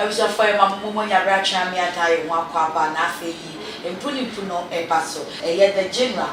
Abusuafoɔ yɛ ma mo momo nya berɛ atwe amee ataa yɛn ho akɔ aba na afei yi mpu ne mpu no reba so ɛyɛ the general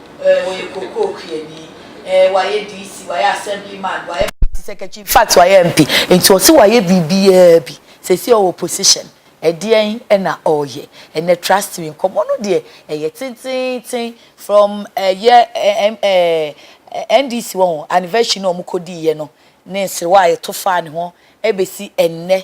eh, ɔyɛ kokoo kuani, eh, wayɛ DC, wayɛ assembly man, wayɛ party secretary, infact wayɛ MP, nti ɔse wayɛ biribiaa bi, seisei ɔwɔ position, ɛdeɛn na ɔɔyɛ ɛnɛ, trust me, nkɔmmɔ no deɛ ɛyɛ tenteenten from ɛyɛ eh, NDC wahu, anniversary no a wɔkɔdiiɛ no, ne nserewa a yɛto faa ne ho ɛbɛsi ɛnnɛ,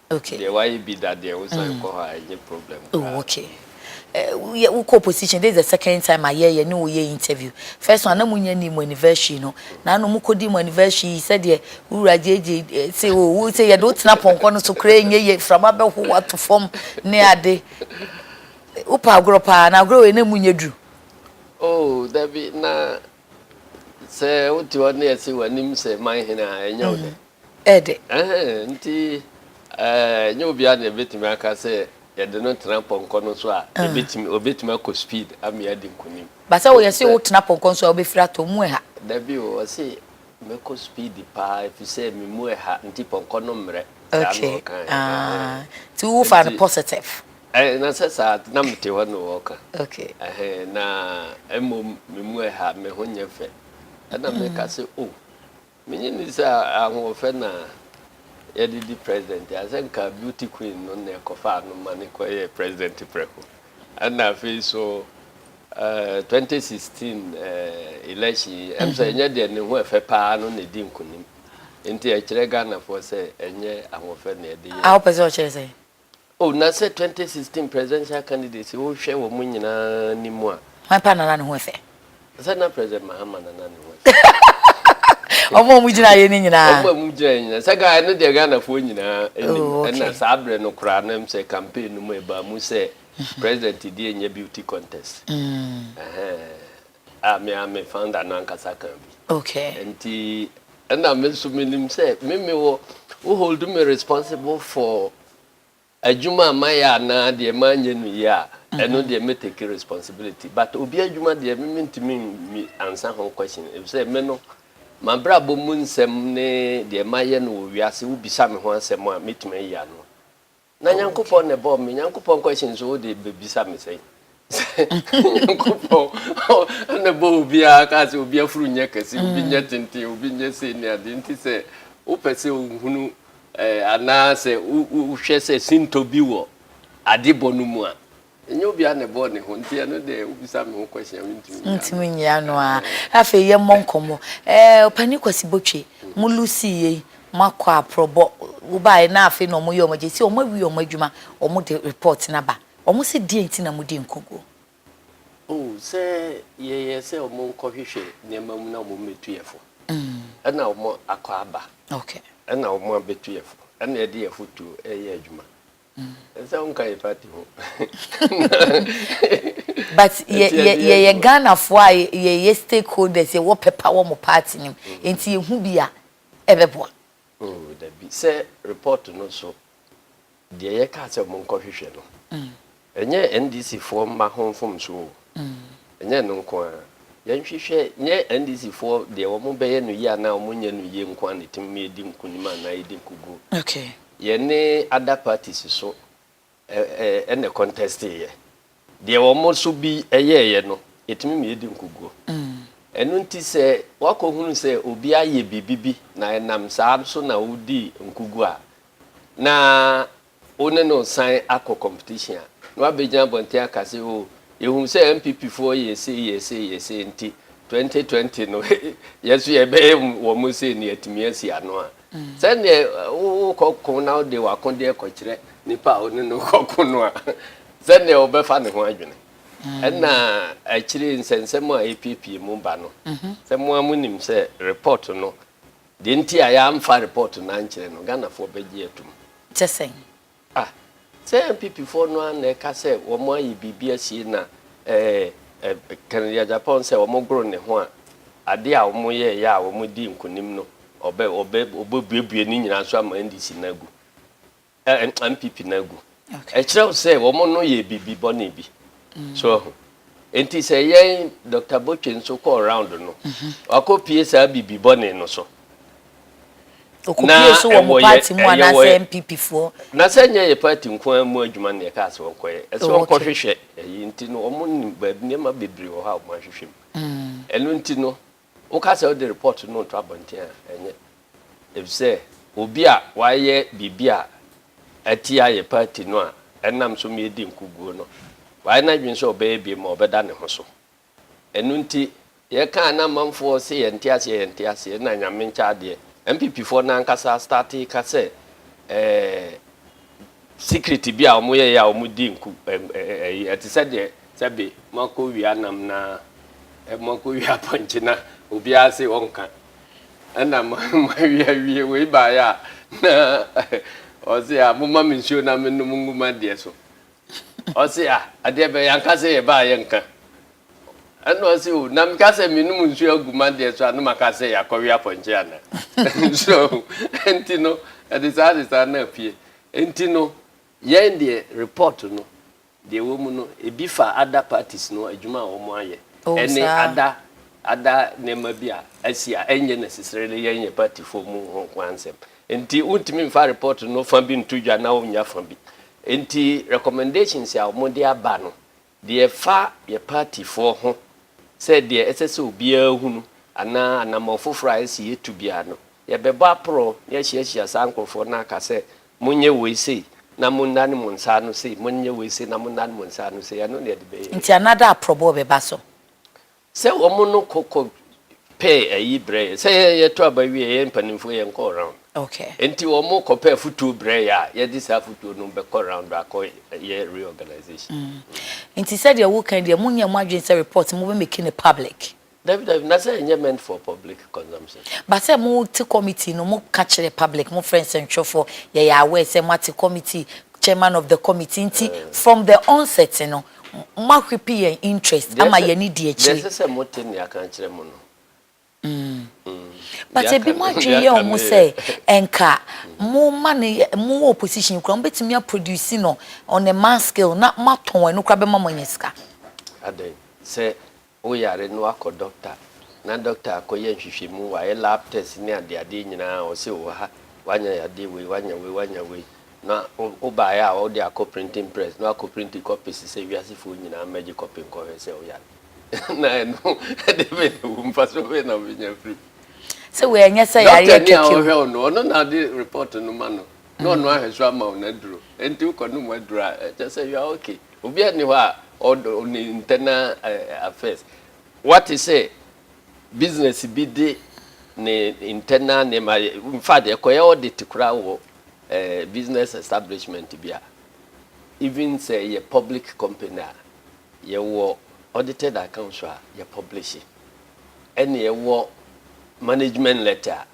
Deɛ wayɛ bi da deɛ wosan kɔ hɔ a ɛnyɛ problem koraa. Oh okay. Uh, yɛ wokɔ opposition this is the second time ayɛ yɛ ne woyɛ interview. First one na mo nyɛ ni mo anniversary no. Na ano mo kɔdi mo anniversary yi sɛdeɛ wura gyegye eh, sɛ o wo sɛ yɛde wotena pɔnkɔ no so koraa ɛnyɛ yɛ frama bɛho wato fam ne ade. Wopɛ agorɔ paa na agorɔ wei na mo nyɛ duru. Oh dabi na sɛ wote hɔ ne yɛse w'anim sɛ man hene a ɛnyɛ wo dɛ. ɛ de. Ɛhɛɛ nti ɛnyɛ obiara na yɛbɛtumi aka sɛ yɛde no tena pɔnkɔ no so a yɛbɛtumi, ɔbɛtumi akɔ speed ama yɛadi nkonim. But sɛ wɔyɛse wo tena pɔnkɔ no so a wobɛfiri atɔ mu ɛha. Dabi o, ɔse mɛkɔ speed paa ɛfisɛ me mu ɛha nti pɔnkɔ no mmrɛ, saa na ɔka ɛ. Okay, nti wo faa no positive. Ɛɛ na sɛ saa a na mete hɔ na ɔɔka. Okay. Ɛhɛɛ na mmom me mu ɛha, me ho nyɛ fɛ, ɛna meka se oh. Menye nni sɛ ahoɔfɛ na yɛde di president a, sɛ nka beauty queen no na ɛkɔfaa no ma no kɔyɛɛ president prɛko. Ɛna afei nso eh, 2016 eh, election yi, ɛm sɛ ɛnyɛ deɛ ne ho ɛfɛ paa no na ɛdi nkonim. Nti ɛkyerɛ Ghanafoɔ sɛ ɛnyɛ ahoɔfɛ na yɛde yɛ. A wopɛ sɛ ɔkyerɛ sɛ? Oh na sɛ twenty sixteen presidential candidates wo hwɛ wɔ mo nyinaa ni mu a. Hwan paa na na ne ho ɛfɛ? Sɛ na president Mahama na na ne ho ɛfɛ. Wɔn a wɔn gyina yɛ ne nyinaa. Wɔn a wɔn gyina yɛ nyinaa. Sɛ gaa ɛno deɛ Ghana foɔ nyinaa ɛnim. Oh okay. Ɛna saa abirɛ no koraa na sɛ campaign no mu ɛbaa mu sɛ president deɛ nyɛ beauty contest. Mm. Ɛhɛn. Ah, me ara me founder no ankasa kaa bi. Okay. Nti ɛna me nso menim sɛ me me wɔ wo hold me responsible for adwuma a mayɛ anaa deɛ manyɛ no yie a, mhm. ɛno deɛ me take responsibility. But obi adwuma deɛ me mentumi nmi ansa ho question efisɛ me no mabrabɔ mu nsɛm ne deɛ mayɛ no wɔ wiase wobisa me ho asɛm a metumi ayi ano. Na Nyankopɔn na ɛbɔɔ me. Nyankopɔn question so wode bɛbisa me sɛn? Nyankopɔn na ɛbɔɔ obiara kaa sɛ obi afuru nyɛ kɛse, obi nyɛ tenten, obi nyɛ sei ne ade. Nti sɛ wopɛ sɛ wohunu eh, anaasɛ wohwɛ sɛ sintɔ bi wɔ adebɔ no mu a, Ɛnyɛ obiara na ɛbɔɔ ne ho nti ɛno deɛ wobisa me ho question a mentumi nyɛ ano. Wontumi nyɛ ano a. Afei yɛmmɔ nkɔmmɔ. Ɛɛ Ɔpanin Kwasi Botwe, mo loosey yei, moakɔ aprɔbɔ, wobaeɛ na afei na wɔyɛ wɔn gyesɛ wɔawie wɔn adwuma, wɔde report no aba. Wɔn se deɛn nti na modi nkoguo? Oh, sɛ yɛyɛ sɛ wɔnkɔhwehwɛ nneɛma mu na wɔmmɛtu yɛn fo. Ɛna wɔakɔ aba. Okay. Ɛna wɔabɛtu yɛn fo. Ɛna yɛde yɛn afotuo reyɛ adwuma. Nsa wo nka yɛ party ho. But yɛyɛ Ghanafoɔ a yɛyɛ stakeholders, yɛwɔ pɛpa wɔ mo party no mu, nti yɛhu bi a ɛbɛboa. Oh dabi, sɛ report no so deɛ yɛkaa sɛ monkɔ hwehwɛ no, ɛnyɛ NDC foɔ mma ho mfomso o, ɛnyɛ ɛno nko ara. Yɛnhwehwɛ, nyɛ NDC foɔ deɛ wɔbɛyɛ no yie anaa wɔnyɛ no yie nko ara na ɛtumi ma yɛdi nkunim anaa yɛdi nkuguo. Okay. Yɛne other parties so ɛ na contesting yɛ. Deɛ wɔn nso bi yɛɛyɛ no, yɛtumi ma yɛdi nkuguo. Ɛno nti sɛ woakɔhunu sɛ obi ayɛ biribi bi na ɛnam saa so na wodii nkuguo a, na wo ne no resan akɔ competition a, na woabɛgyina abɔnten aka sɛ, oh, yɛhuu sɛ NPP foɔ yɛɛ sei, yɛɛ sei, yɛɛ sei nti 2020 no yɛn nso yɛbɛyɛ wɔn sei na yɛatumi asi ano a. Sɛdeɛ wokɔ ko na wode w'akodeɛ kɔkyerɛ nipa a wo ne no rekɔ ko no a, sɛdeɛ ɔbɛfa ne ho adwene. Ɛna akyire nsɛnsɛm a ɛpiepie mu ba no, sɛ mo ara monim sɛ report no, deɛ nti a yɛamfa report no ankyerɛ no, Ghanafoɔ bɛgye atom. Te sɛn? Ah, sɛ NPP foɔ no ara na ɛka sɛ wɔn ayɛ biribi asie na eh, Kennedy Agyapong sɛ wɔn goro ne ho a, adeɛ a wɔn yɛɛyɛ a wɔn dii nkunim no, ɔbɛ, ɔbɛ, ɔbɛbuebue ne nyinaa nso ama NDC no agu, eh, NPP no agu. Okay. Ɛkyerɛ wo sɛ wɔn no yɛ biribi bɔne bi. Mm. So ahu. Enti sɛ yɛn Dr. Botwe nso kɔɔ round no, mm-hmm. wakɔpie saa biribi bɔne no so. Ɔkɔpie so wɔ mo party mu anaasɛ NPP foɔ. Na sɛ nyɛ yɛ party nko ara mu adwuma na yɛkaa sɛ ɔnkɔyɛ. Ɛsɛ ɔnkɔhwehwɛ ɛyi nti no wɔn nim baabi nneɛma bebree wɔ hɔ a wɔn ahwehwɛ mu. Ɛno nti no woka sɛ wode report no reto abɔnten a ɛnyɛ. Efisɛ obi a wayɛ biribi a atia yɛ party no a ɛnam so ma yɛdi nkoguo no wayɛ n'adwene sɛ ɔbɛyɛ bio ma ɔbɛda ne ho so. Ɛno nti yɛkaa na amanfoɔ se yɛnte aseɛ yɛnte aseɛ na Nyame nkyɛ adeɛ. NPP foɔ no ankasa startee ka sɛ ɛɛ secret bi a wɔn yɛeɛ a wɔn dii nku ɛm ɛyi ɛte sɛ deɛ sɛbe moakɔ wia nam na ɛ moakɔ wia apɔnkye na obiara se ɔnka ɛna mo moawie awie wei baeɛ a na ɔse a momma me nsuo na menom ngu m'adeɛ so Ɔse ah adeɛ bɛn yanka sɛ yɛbaa yɛnka ɛna ɔse oh na meka sɛ menom nsuo agu madeɛ so a na maka sɛ yɛakɔwe apɔnkye anaa so ahu ɛnti no ɛde saa de saa na apue ɛnti no yɛn deɛ report no deɛ ɛwɔ mu no ɛbi fa other parties no adwuma a wɔn ayɛ ɛne ada ada nneɛma bi a asi a ɛnyɛ necessarily yɛn yɛ partyfoɔ mu ho ho ansɛm Enti wontumi mfa report no fa bi nto dwa na wonnya fa bi. Enti recommendations a wɔde aba no, deɛ ɛfa yɛ partyfoɔ ho sɛ deɛ ɛsɛ sɛ obiara hu no anaa anammɔn foforɔ a ɛsɛ yɛtu biara no, yɛbɛbɔ aporɔw na yɛahyiahyia saa nkorɔfoɔ no aka sɛ, monyɛ wei sei na monnane mo nsa ano sei, monyɛ wei sei na monnane mo nsa ano sei. Ɛno na yɛde bɛyɛ. Nti another aporɔboɔ bɛba so. Sɛ wɔn no kɔ kɔ pɛɛ ayi brɛ yɛn. Sɛ yɛn yɛtɔ aba wie a, yɛn mpanimfoɔ yɛn kɔ round. Okay. Nti wɔn kɔ pɛ afutuo brɛ yɛn a, yɛde saa afutuo no bɛkɔ round akɔ yɛ reorganization. Mm. Nti sɛdeɛ woka yi deɛ, mo nyɛ mo adwene sɛ report mo bɛ make no public? Dabi dabi, na sɛ ɛnyɛ meant for public consumption. But sɛ mo te committee no, mo ka kyerɛ public, mo frɛ nsɛntwerɛfoɔ, yɛyɛ aware sɛ mo ate committee, chairman of the committee, nti from the onset no, Moa whip yɛn interest ama yɛn ani di akyire. Deɛ ɛsɛ sɛ mo te nea kan kyerɛ mo no. But ebi mo adwene yɛ wɔn sɛ ɛnka mo ma no yɛ mo wɔ opposition kura mo betumi a produce no on a mass scale na mo atɔn ɛno kura bɛma mo anya sika. Adɛn sɛ Wo yare na woakɔ dɔkta na dɔkta akɔyɛ nhwehwɛmu, wayɛ lab test ne adeadeɛ nyinaa a ɔse wowɔ ha, woanya yadeɛ wei, woanya wei, woanya wei, na wobaeɛ a wode akɔ printing press na woakɔ printi copies sɛ wiasefoɔ nyinaa mmɛgye copy nkɔhwɛ sɛ woyare na ɛno ɛdeɛ bɛn na ɛwom, mfasoɔ bɛn na wobɛnya afiri mu? Sɛ wei ɛnyɛ sɛ yareɛ kɛkɛ o. Dɔktani a ɔhwɛ wo no, ɔno na ɔde report no ma no. na ɔnoa ahwɛso ama wo n'aduro nti wokɔ nom aduro a ɛkyɛ sɛ you are okay obiara nni hɔ a ɔdɔ ne internal eh, affairs wate sɛ business bi de ne internal nneɛma yɛ in fact ɛkɔyɛ audit koraa wɔ eh, business establishment bi a even sɛ yɛ public company a yɛwɔ audited accounts a yɛ publish ɛne ɛwɔ management letter a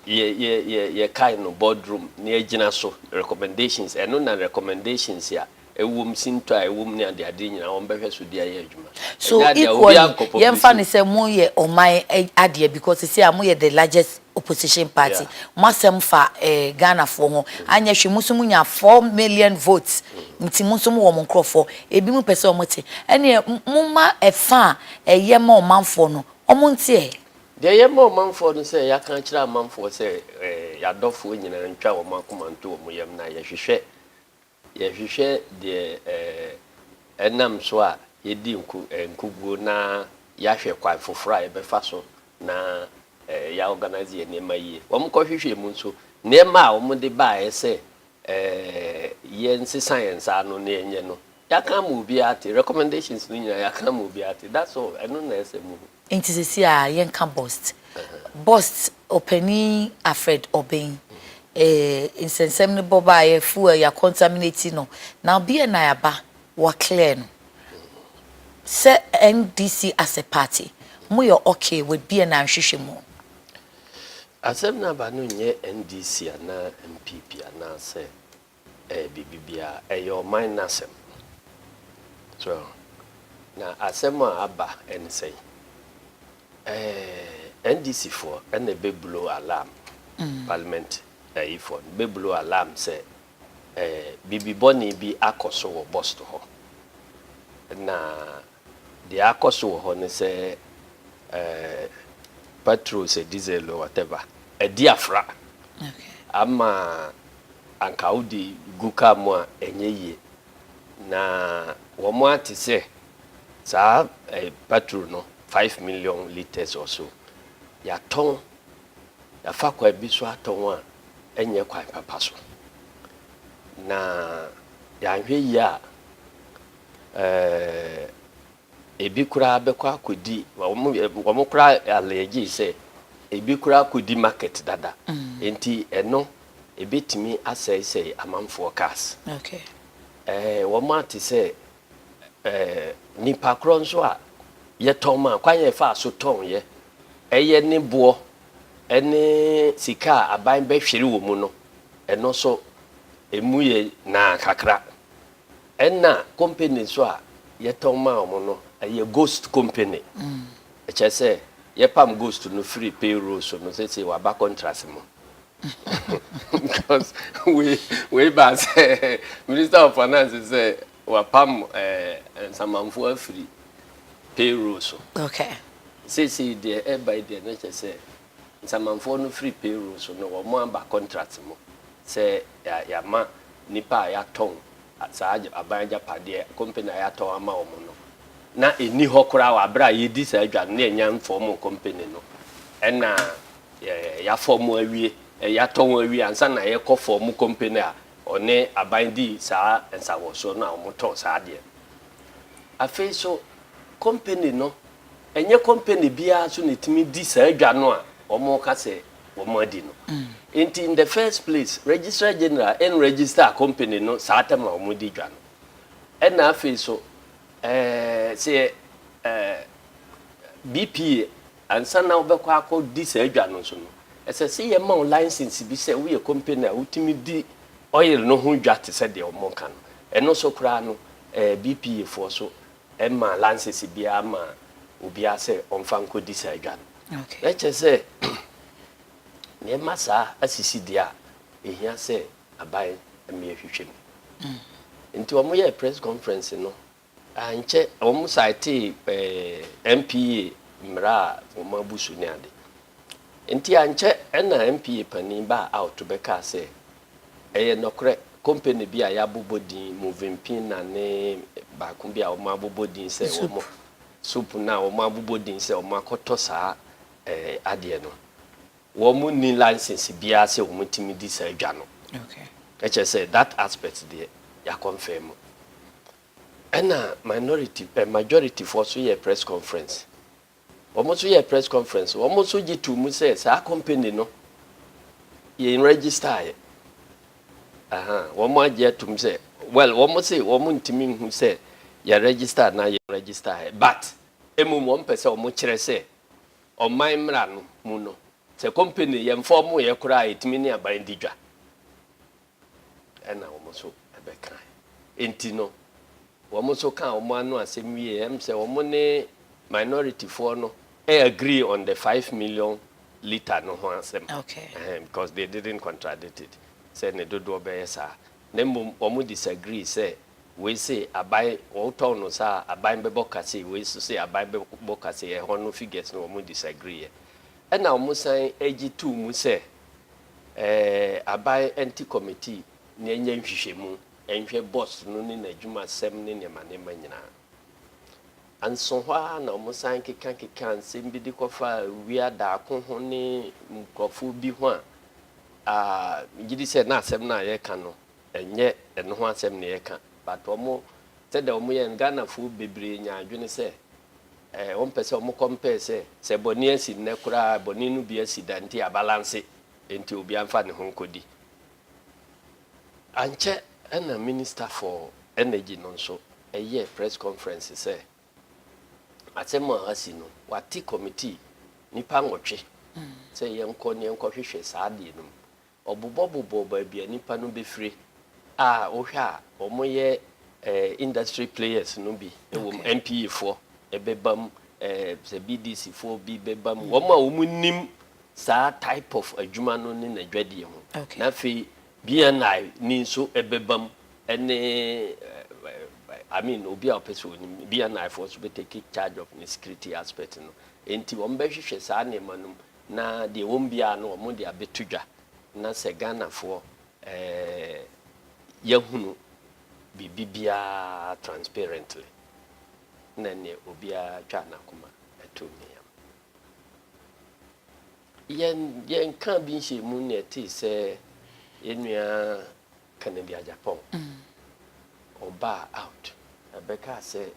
Yɛ yɛ yɛ yɛkae no boardroom na yɛagyina so, recommendations, ɛno na recommendations a ɛwɔ mu, sintɔ a ɛwɔ mu ne adeade nyinaa wɔbɛhwɛ so de ayɛ adwuma. So Ɛnyɛ adeɛ a equally, obiara nkɔ public yɛmfa no sɛ moyɛ ɔman ɛ adeɛ because seesei a moyɛ the largest opposition party, Yeah. mo asɛm fa ɛ Ghanafoɔ ho, anyɛ hwee mo nso monya four million votes nti mo nso mowɔ mo nkorɔfoɔ, ebinom pɛ sɛ wɔte, ɛnneɛ m momma ɛfa a ɛyɛ ma ɔmanfoɔ no wɔnte ɛ. Deɛ yɛma ɔmanfoɔ ne sɛ yɛaka akyerɛ amanfoɔ sɛ yɛn adɔfoɔ nyinaa ntwa wɔn akoma nto wɔn yam na yɛhwehwɛ yɛhwehwɛ deɛ ɛnam so a yɛdi nku nkuguo na yɛahwɛ kwan foforɔ a yɛbɛfa so na yɛaorganise yɛn nneɛma yie. Wɔkɔhwehwɛɛ mu nso, nneɛma a wɔde baeɛ sɛ yɛnsesa yɛn nsa ano na yɛnyɛ no, yɛaka ama obiara ate. Recommendations no nyinaa yɛaka ama obiara ate. That's all. Ɛno na ɛsɛ mu no. Nti sesei a yɛnka Bost. Bost ɔpanin Alfred Obeng, eh, nsɛnsɛm no bɔ baeɛ, fuel yɛ contaminate no, na ɔbeɛ na aba, wa clear no. Sɛ NDC as a party, mo yɛ okay with beɛ na nhwehwɛ mu? Asɛm no aba no nyɛ NDC anaa NPP anaasɛ Ɛyɛ biribi biara. Ɛyɛ ɔman no asɛm. So, na asɛm a aba ne sɛn? Ɛɛ, NDC foɔ na ɛbɛ blow alarm, parliament ayifoɔ no bɛ blow alarm sɛ ɛɛ biribi bɔne bi akɔ so wɔ Bost hɔ. Na Deɛ akɔ so wɔ hɔ ne sɛ pɛtro sɛ diesel o whatever adi afra ama anka wode gu kaa mu a ɛnyɛ yie na wɔn ate sɛ saa pɛtro no five million litres or so yɛatɔn yɛafa kwan bi so atɔn a ɛnyɛ kwan papa so na yɛanhwɛ yie a Ɛɛ, ebi koraa bɛkɔ akɔdi, wɔn, wɔn koraa allege sɛ ebi koraa kɔdi market dada. Enti ɛno, ɛbɛtumi asɛesɛe amanfoɔ cars. Okay. Ɛɛ, wɔate sɛ, ɛɛ, nnipa korɔ nso a yɛtɔn ma, kwan a yɛfaa so tɔn yɛ, ɛyɛ ne boɔ ne sika a aban bɛhwere wɔ mu no, ɛno nso, ɛmu yɛ naa kakra. Ɛna company nso a yɛtɔn maa wɔn no, ɛyɛ ghost company. Ɛkyerɛ sɛ yɛpam ghost no firi payroll so no, seesei waba contract mu. Because wei, wei baa sɛ Minister of Finance sɛ wapam eh, nsamanfoɔ afiri payroll so. Okay. Seesei deɛ ɛba yi deɛ na kyerɛ sɛ Nsamanfoɔ no firi payroll so no wɔn aba contract mu sɛ yɛama nnipa a yɛatɔn saa aban agyapadeɛ company a yɛatɔn ama wɔn no na ɛnni hɔ koraa wɔ aberɛ a yɛdi saa adwa no na yɛnya mfɔɔmoo company no ɛna yɛafɔɔmo awie yɛatɔn awie ansa na yɛkɔ fɔɔmo company a ɔne aban di saa nsawɔsoɔ no a wɔtɔn saa adeɛ no afei so Kɔmpani no, ɛnyɛ kɔmpani biara nso na ɛtumi di saa dwa no a wɔreka sɛ wɔadi no. Enti, in the first place, Registrar General nregister kɔmpani no saa tam a wɔdi dwa no. Ɛnna afei nso, sɛ BPA, ansa na wobɛkɔ akɔdi saa dwa no nso no, ɛsɛ sɛ wɔma wo license bi sɛ woyɛ kɔmpani a wotumi di oil no ho dwa te sɛ deɛ wɔka no. Ɛno nso koraa no, BPA foɔ nso ɛmmaa lansese biara mmaa obiara sɛ ɔmfa nkɔdi saa dwa no. Na kyerɛ sɛ, nneɛma saa asisi deɛ a, ɛhia sɛ aban mmea hwehwɛ mu. Nti wɔyɛɛ press conference no, ankyɛ wɔn saetee ɛɛ NPA mmara a wɔn abu so ne ade. Nti ankyɛ ɛna NPA panin baa out bɛkaa sɛ, Ɛyɛ nɔkorɛ, kompani bi a yɛabobɔ din, Movenpina ne baako bi a wɔabobɔ din sɛ wɔn, Soup no a wɔabobɔ din sɛ wɔakɔtɔ saa adeɛ no, wɔnni license biara sɛ wɔtumi di saa dwa no. Ɛkyerɛ sɛ that aspect deɛ yɛaconfirm. Ɛna minority, majorityfoɔ nso yɛɛ press conference Wɔn nso yɛɛ press conference, wɔn nso gye too mu sɛ saa company no yɛ nregistaeɛ. Aha, wɔn agye atom sɛ, well, wɔn se wɔn ntumi nhu sɛ yɛ register anaa yɛ nregistaeɛ, but mmom wɔn pɛ sɛ wɔn kyerɛ sɛ ɔman mmara no mu no, sɛ company yɛmfa wɔn yɛ koraa a ɛtumi ne aban di dwa. Ɛnna wɔn nso bɛkae. Enti no, wɔn nso kaa wɔn ano asɛm wiei. Ɛm sɛ wɔn ne minorityfoɔ no agree on the five million litre no ho asɛm. Ɛhɛn, because they didn't contradict it sɛ ne dodoɔ bɛyɛ saa, na mmom wɔn disagree sɛ wei se aban wotɔn no saa a, aban bɛbɔ ka sei, wei nso se aban bɛbɔ ka sei. Ɛhɔ no figures no wɔn disagreeɛ. Ɛnna wɔsan gye too mu sɛ Aban Anti Committee na ɛnyɛ nhwehwɛmu nhwɛ bɔs no ne n'adwumasɛm ne nneɛma nneɛma nyinaa. Anso hɔ ara na wɔsan kekakekaa nsɛm bi de kɔfaa Wia Darko ho ne nkurɔfoɔ bi ho a, ah, megye di sɛ na asɛm no a yɛreka no, ɛnyɛ ɛno ho asɛm na yɛreka, but wɔn, sɛdeɛ wɔyɛɛ no, Ghanafoɔ bebree nyaa adwene sɛ Wɔmpɛ sɛ wɔn kɔm pɛɛ sɛ, sɛ bɔne asi nnɛ koraa a, bɔne no bi asi da nti abalanse, enti obiara mfa ne ho nkɔdi. Ankyɛ na Minister for Energy no nso yɛɛ press conference sɛ asɛm a asi no, wɔate committee nnipa nwɔtwe sɛ yɛnkɔ na yɛnkɔhwehwɛ saa adeɛ no mu. Wɔbobɔbobɔ baabi a nnipa no bɛfire a wohwɛ a wɔyɛ industry players no bi wom, NPE foɔ bɛba mu, sɛ BDC foɔ bi bɛba mu, wɔn a wɔnim saa type of adwuma no ne n'adwadie ho. Na afei BNI ni nso bɛba mu ne I mean obi a ɔpɛ sɛ ɔnim, BNI foɔ nso bɛ take charge of ne security aspect no. Enti wɔbɛhwehwɛ saa nneɛma no mu na deɛ ɛwom biara no wɔn de abɛto dwa na sɛ Ghanafoɔ eh, yɛahunu biribi biara transparently na neɛ obiara twa n'akoma ato ne yam yɛn yɛnka bi nhyɛ mu na ɛte sɛ yɛnua Kennedy Agyapong, ɔbaa out na bɛkaa sɛ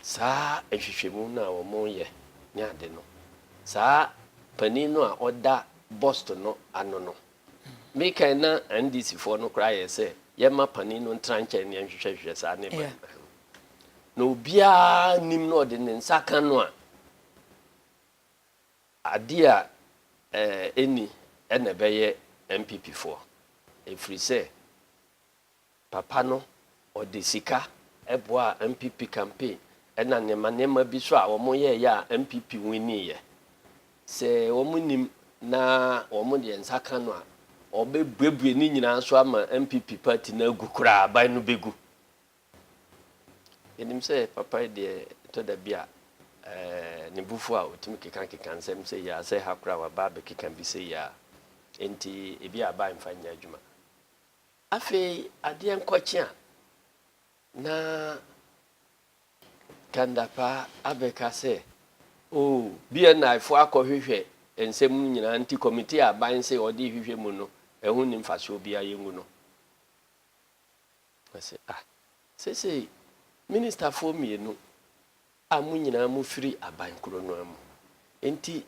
saa nhwehwɛmu no a wɔyɛ ne ade no, saa panin no a ɔda bust no ano no, me kan na NDC foɔ no koraa yɛ sɛ yɛmma panin no ntra nkyɛn ne nhwehwɛhwehwɛ saa ne ba no ho. Na obiara nim na ɔde ne nsa ka no a, Adeɛ a ɛnni na ɛbɛyɛ NPP foɔ ɛfiri sɛ papa no ɔde sika boaa NPP campaign ɛna nneɛma nneɛma bi so a wɔn yɛɛyɛ a NPP winniiɛ. Sɛ wɔn nnim na wɔn deɛ nsa ka no a wɔbɛbuebue ne nyinaa so ama NPP party no agu koraa aban no bɛgu Yɛnim sɛ papa yi deɛ ɛtɔ da bi a ne bo fu a ɔtumi kekankeka nsɛm sei ara, sɛ ha koraa a waba abɛkeka bi sei ara, enti ebi a aba a mfa nyɛ adwuma. Afei adeɛ nkɔkye a na Kandapaa abɛka sɛ oh BNI foɔ akɔhwehwɛ nsɛm no nyinaa nti kɔmiti a aban se ɔde rehwehwɛ mu no ɛho nni mfasoɔ biara yɛngu no. Ɔse ah sesei Ministerfoɔ mmienu a mo nyinaa mo firi aban koro no ara mu nti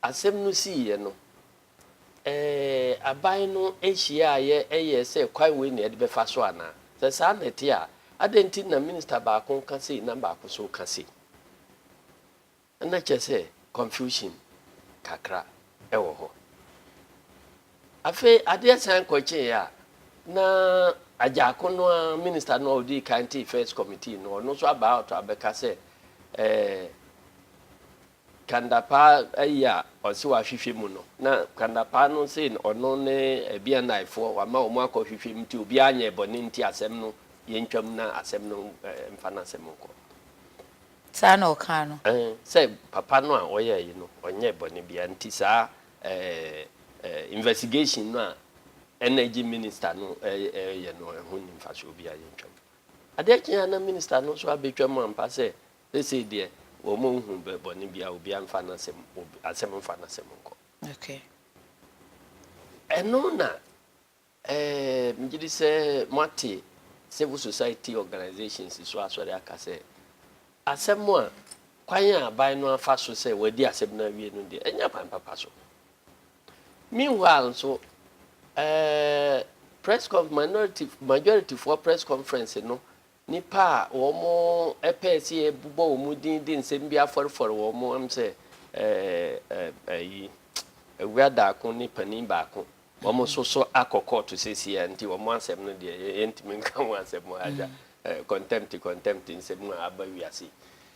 asɛm no siiɛ no ɛɛ aban no hyiaaeɛ yɛɛ sɛ kwan wei na yɛde bɛfa so anaa? Sɛ saa na ɛte a adɛn nti na Minister baako ka sei na baako nso ka sei? Nna kyerɛ sɛ confusion kakra wɔ hɔ. Afei adeɛ san kɔ kyeeɛ a, na Adjako no ara, minister no a ɔdii kan tee first committee no, ɔno nso aba out abɛka sɛ eh, Kandapaa ayi a ɔse wahwehwɛ mu no, na Kandapaa no se ɔno ne Bianaefoɔ wama wɔn akɔ hwehwɛ mu nti obiara nyɛɛ bɔne nti asɛm no yɛntwam na asɛm no eh, mfa n'asɛm nkɔ. Saa na ɔkaa no. Ɛɛ, sɛ papa no a ɔyɛɛ yi no, ɔnyɛɛ bɔne biara nti saa ɛɛ ɛɛ investigation no a Energy Minister no ɛɛ ɛɛyɛ no ɛho nni mfasoɔ biara, yɛntwa mu. Adeɛ kye a na Minister no nso abɛtwa mu ampa sɛ seesei deɛ wɔn nhu bɛ bɔne biara, obiara mfa n'asɛm obi asɛm mfa n'asɛm nkɔ. Okay. Ɛno na Ɛɛ, megye di sɛ moate civil society organisations so asɔre aka sɛ asɛm a kwan a aban no afa so sɛ wɔadi asɛm no awie no deɛ, ɛnyɛ kwan papa so. Meanwhile nso, ɛɛ, press conf, minority, majorityfoɔ press conference no Nnipa a wɔpɛɛ sɛ yɛbobɔ wɔn din de nsɛm bi afɔrefɔre wɔn ho am sɛ ayi, awura daako ne panin baako, wɔn nso so akɔ kɔɔto seesei a nti wɔn asɛm no deɛ yɛntumi nka ho asɛm wɔ ha agya. Kɔntɛmte kɔntɛmte nsɛm a aba wiase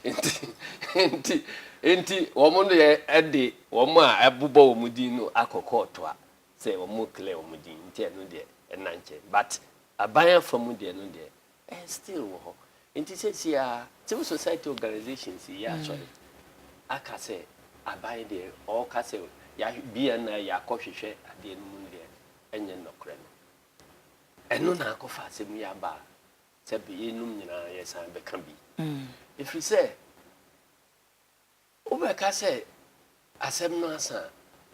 yi nti, nti, nti wɔn deɛ de wɔn a ɛbobɔ wɔn din no akɔ kɔɔto a sɛ wɔn clear wɔn din nti ɛno deɛ ɛnna nkyɛn but Aban afa mu deɛ no deɛ ɛyɛ still wɔ hɔ. Nti sɛsi ara civil society organisations yi yɛ asɔre aka sɛ aban deɛ ɔɔka sɛ yahwɛ BNI yakɔ hwehwɛ adeɛ no mu no deɛ ɛnyɛ nnɔkorɛ no. Ɛno na akɔ fa asɛm yi aba a sɛ bɛ yeinom nyinaa yɛsan bɛka bi. Ɛfiri sɛ. Wobɛka sɛ asɛm no asa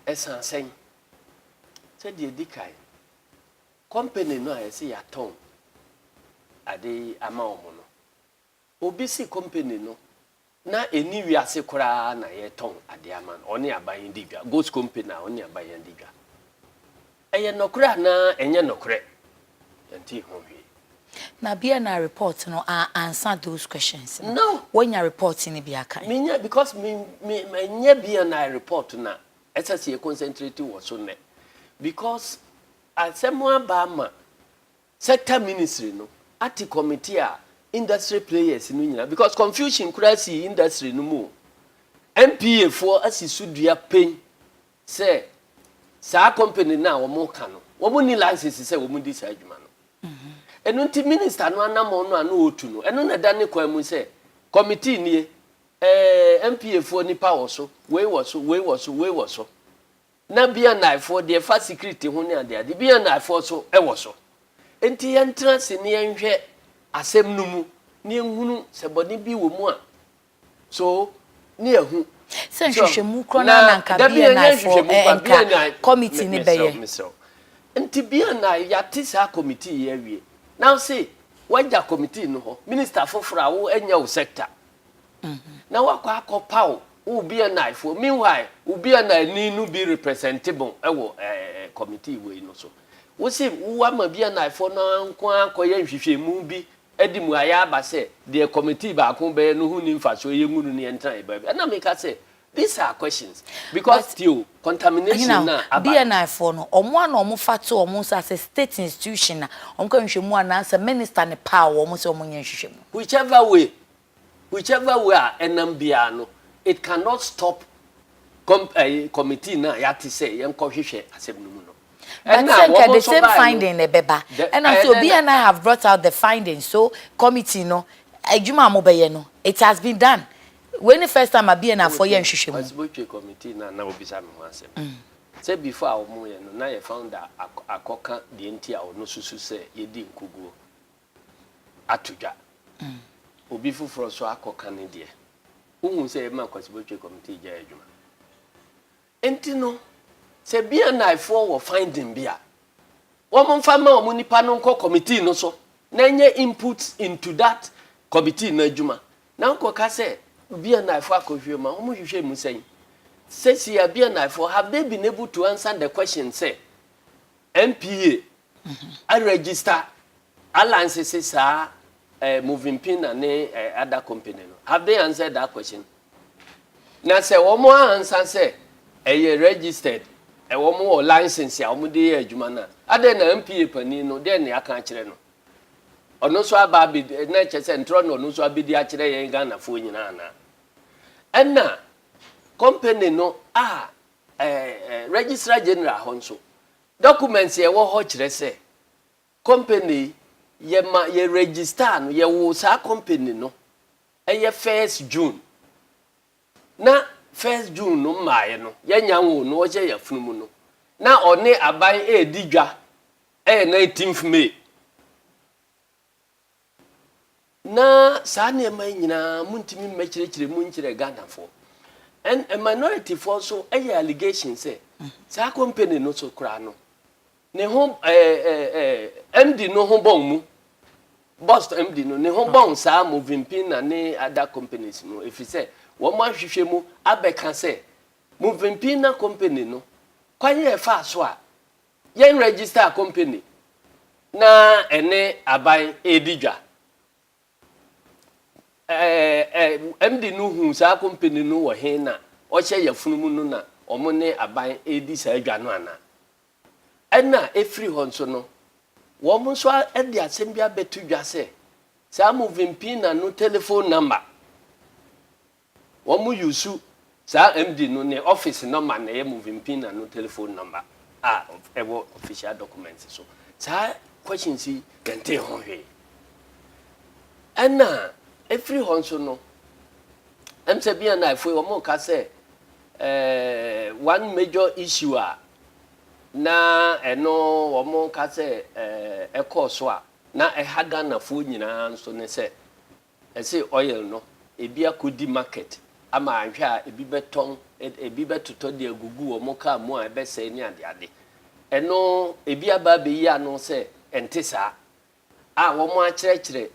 a, ɛsa sɛn? Sɛ deɛ ɛdi kan, kɔmpani no a yɛse yɛatɔn ade yi ama wɔn no, obi se kɔmpani no na ɛnni wiase koraa na yɛretɔn adeɛ ama no, ɔne aban di dwa, Ghost Company a ɔne aban adi dwa. Ɛyɛ nɔkorɛ anaa ɛnyɛ nɔkorɛ? Yɛntee ho hwee. Na bia na report no a ansa those questions no. No! Wanya report no bia kan? Menya because me me ɛnyɛ bia na report na ɛsɛ sɛ yɛ concentrate wɔ so nnɛ. Because asɛm aba ama sector ministry no ate committee a industry players no nyinaa because confusion koraa sii industry no mu o. NPA foɔ asi so dua pɛn sɛ saa company no a wɔka no, wɔnni license sɛ wɔdi saa adwuma no. Ɛno nti minister no anammɔn no a na ɔretu no, ɛno na ɛda ne kwan mu sɛ committee nie, ɛɛ NPA foɔ nipa wɔ so, wei wɔ so, wei wɔ so, wei wɔ so. Na BNI foɔ deɛ ɛfa security ho ne adeade, BNI foɔ so wɔ so. Nti yɛntena ase na yɛnhwɛ asɛm no mu na yɛnhunu sɛ bɔne bi wɔ mu a, So ne ahu. Sɛ nhwehwɛmu korɔ no na nka BNI foɔ nka committee ne bɛyɛ. Mesrɛw nti BNI yɛate saa committee yi awie na ɔse wagya committee no hɔ minister foforɔ a wo ɛnyɛ wo sector mhm. na wakɔ akɔ paw wo BNI foɔ meanwhile wo BNI ni no bi representable ɛwɔ ɛɛ committee wei no so wose wowɔ ama BNI foɔ no nko akɔyɛ nhwehwɛmu bi de mmuaeɛ aba sɛ, Deɛ kɔmitii baako bɛyɛ no ho nni mfasoɔ, yɛngu no na yɛntena yɛn baabi. Ɛnna meka sɛ, These are questions, because tie o, contamination no a aba no. BNI foɔ no, wɔn a na wɔfa to wɔn nsa sɛ state institution a wɔkɔyɛ nhwehwɛmu anaasɛ minister no paw wɔn sɛ wɔnyɛ nhwehwɛmu. Whichever way, Whichever way a ɛnam biara no, it cannot stop com ɛyi committee no a yɛate sɛ yɛnkɔhwehwɛ asɛm no mu no. But Ɛna sɛ a nka wɔn the nso same baeɛ no, finding na ɛbɛba. the Ɛnam sɛ ɛnɛ Obi na and I have brought out the findings so committee no adwuma a mobɛyɛ no it has been done. Wei ne first time a BNIfoɔ yɛ nhwehwɛmu. Ɔse botwe committee no a na wobisa me ho asɛm sɛ before a wɔyɛ no na yɛ founder akɔ akɔka deɛ nti a ɔno susu sɛ yɛdi nkuguo. ato dwa. Obi foforɔ nso akɔka ne deɛ. Wohu sɛ yɛma Kwasibotwe Committee gyae adwuma. Enti no, sɛ BNIfoɔ wɔ finding bi a, wɔmfa ma wɔn nipa no nkɔ committee no so na ɛnyɛ inputs into that committee no adwuma. Na nkɔka sɛ BNIfoɔ akɔhwehwɛ mu a, wɔhwehwɛ mu sɛn? Sɛsi a BNIfoɔ, have they been able to answer the question sɛ NPA Aregister alliance se saa eh, moving pina ne eh, other company no have they answered that question na sɛ wɔn ansa sɛ ɛyɛ registered eh, wɔn wɔ license a wɔn de yɛ adwuma no a adɛn na mpa panin no dɛn na yɛaka akyerɛ no ɔno nso aba abɛdi eh, na ɛkyɛ sɛ ntorɔ na ɔno nso abɛdi akyerɛ yɛn ghanafoɔ nyinaa na ɛna company no a eh, eh, registrar general hɔ nso Documents a ɛwɔ hɔ kyerɛ sɛ company yi yɛma yɛ register no, yɛwoo saa company no ɛyɛ first June na first June no mmaeɛ no yɛnya nwoo no ɔhyɛ yafunu mu no na ɔne aban ɛredi dwa ɛyɛ nineteenth May. Na saa nneɛma yi nyinaa montumi mmɛkyerɛkyerɛ mu nkyerɛ Ghanafoɔ. Ɛn minority-foɔ nso yɛ allegation sɛ saa company no so koraa no, ne ho ɛɛ ɛɛ MD no ho bɔn mu. Boss MD no ne ho bɔn saa Movenpin na ne other companies no ɛfiri sɛ wɔn ahwehwɛ mu abɛka sɛ Movenpin na company no kwan a ɛfaa so a Yɛn register company na ɛne aban redi dwa. Ɛɛ MD no hu saa company no wɔ he na ɔhyɛ yafunu mu no na wɔn ne aban redi saa dwa no ana? Ɛna efiri hɔ nso no, wɔn nso de asɛm bi abɛto dwa sɛ saa Moving Pina no telephone number Wɔn use saa MD no ne office number na ɛyɛ moving pin na no telephone number a ɛwɔ official documents so. Saa questions yi yɛn tee ho hwee. Ɛna ɛfiri hɔ nso no, ɛm sɛ bia na ɛfoe wɔn ka sɛ eh, one major issue a na ɛno wɔn ka sɛ eh, ɛkɔɔ so a na ɛha Ghanafoɔ nyinaa nso ne sɛ Ɛse oil no ebi akɔdi market ama anhwɛ a ebi bɛtɔn, ebi bɛtotɔ de agugu wɔn car mu a ɛbɛsɛe ne adeade. Ɛno ebi aba abɛyi ano sɛ ɛnte saa a wɔakyerɛkyerɛ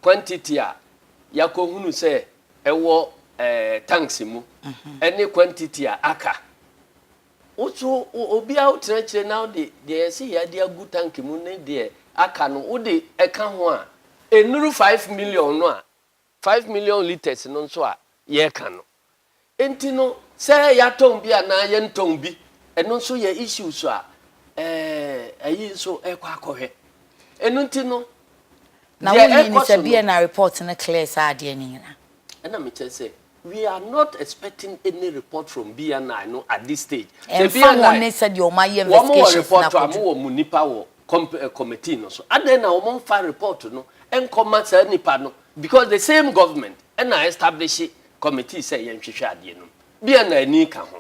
quantity a yɛakɔhunu sɛ ɛwɔ tanks mu ne quantity a aka Wo nso, obiara a wotena akyire na wode deɛ ɛsɛ yɛ de agu tank mu ne deɛ aka no, wode ɛka ho a, ɛnnuru five million no a, five million litres no nso a yɛreka no. Enti no, sɛ yɛatɔn bi anaa yɛntɔn bi, ɛno nso yɛ issues a ayi nso rekɔ akɔhwɛ. Ɛno nti no, deɛ ɛrekɔ so no. Na wonni ne sɛ BNR report no clear saa adeɛ no nyinaa? Ɛna mekyɛ sɛ. We are not expecting any report from BNI no at this stage. Sɛ BNI. Ɛnfa ho ne sɛdeɛ wɔn ayɛ investigations na akɔduru. Wɔn wɔ report a, wɔn wɔ wɔn nipa wɔ Eh, committee no so adɛn na wɔn mfa report no nkɔma saa nipa no because the same government ɛna establish committee sɛ yɛnhwehwɛ adeɛ no bia na ani ka ho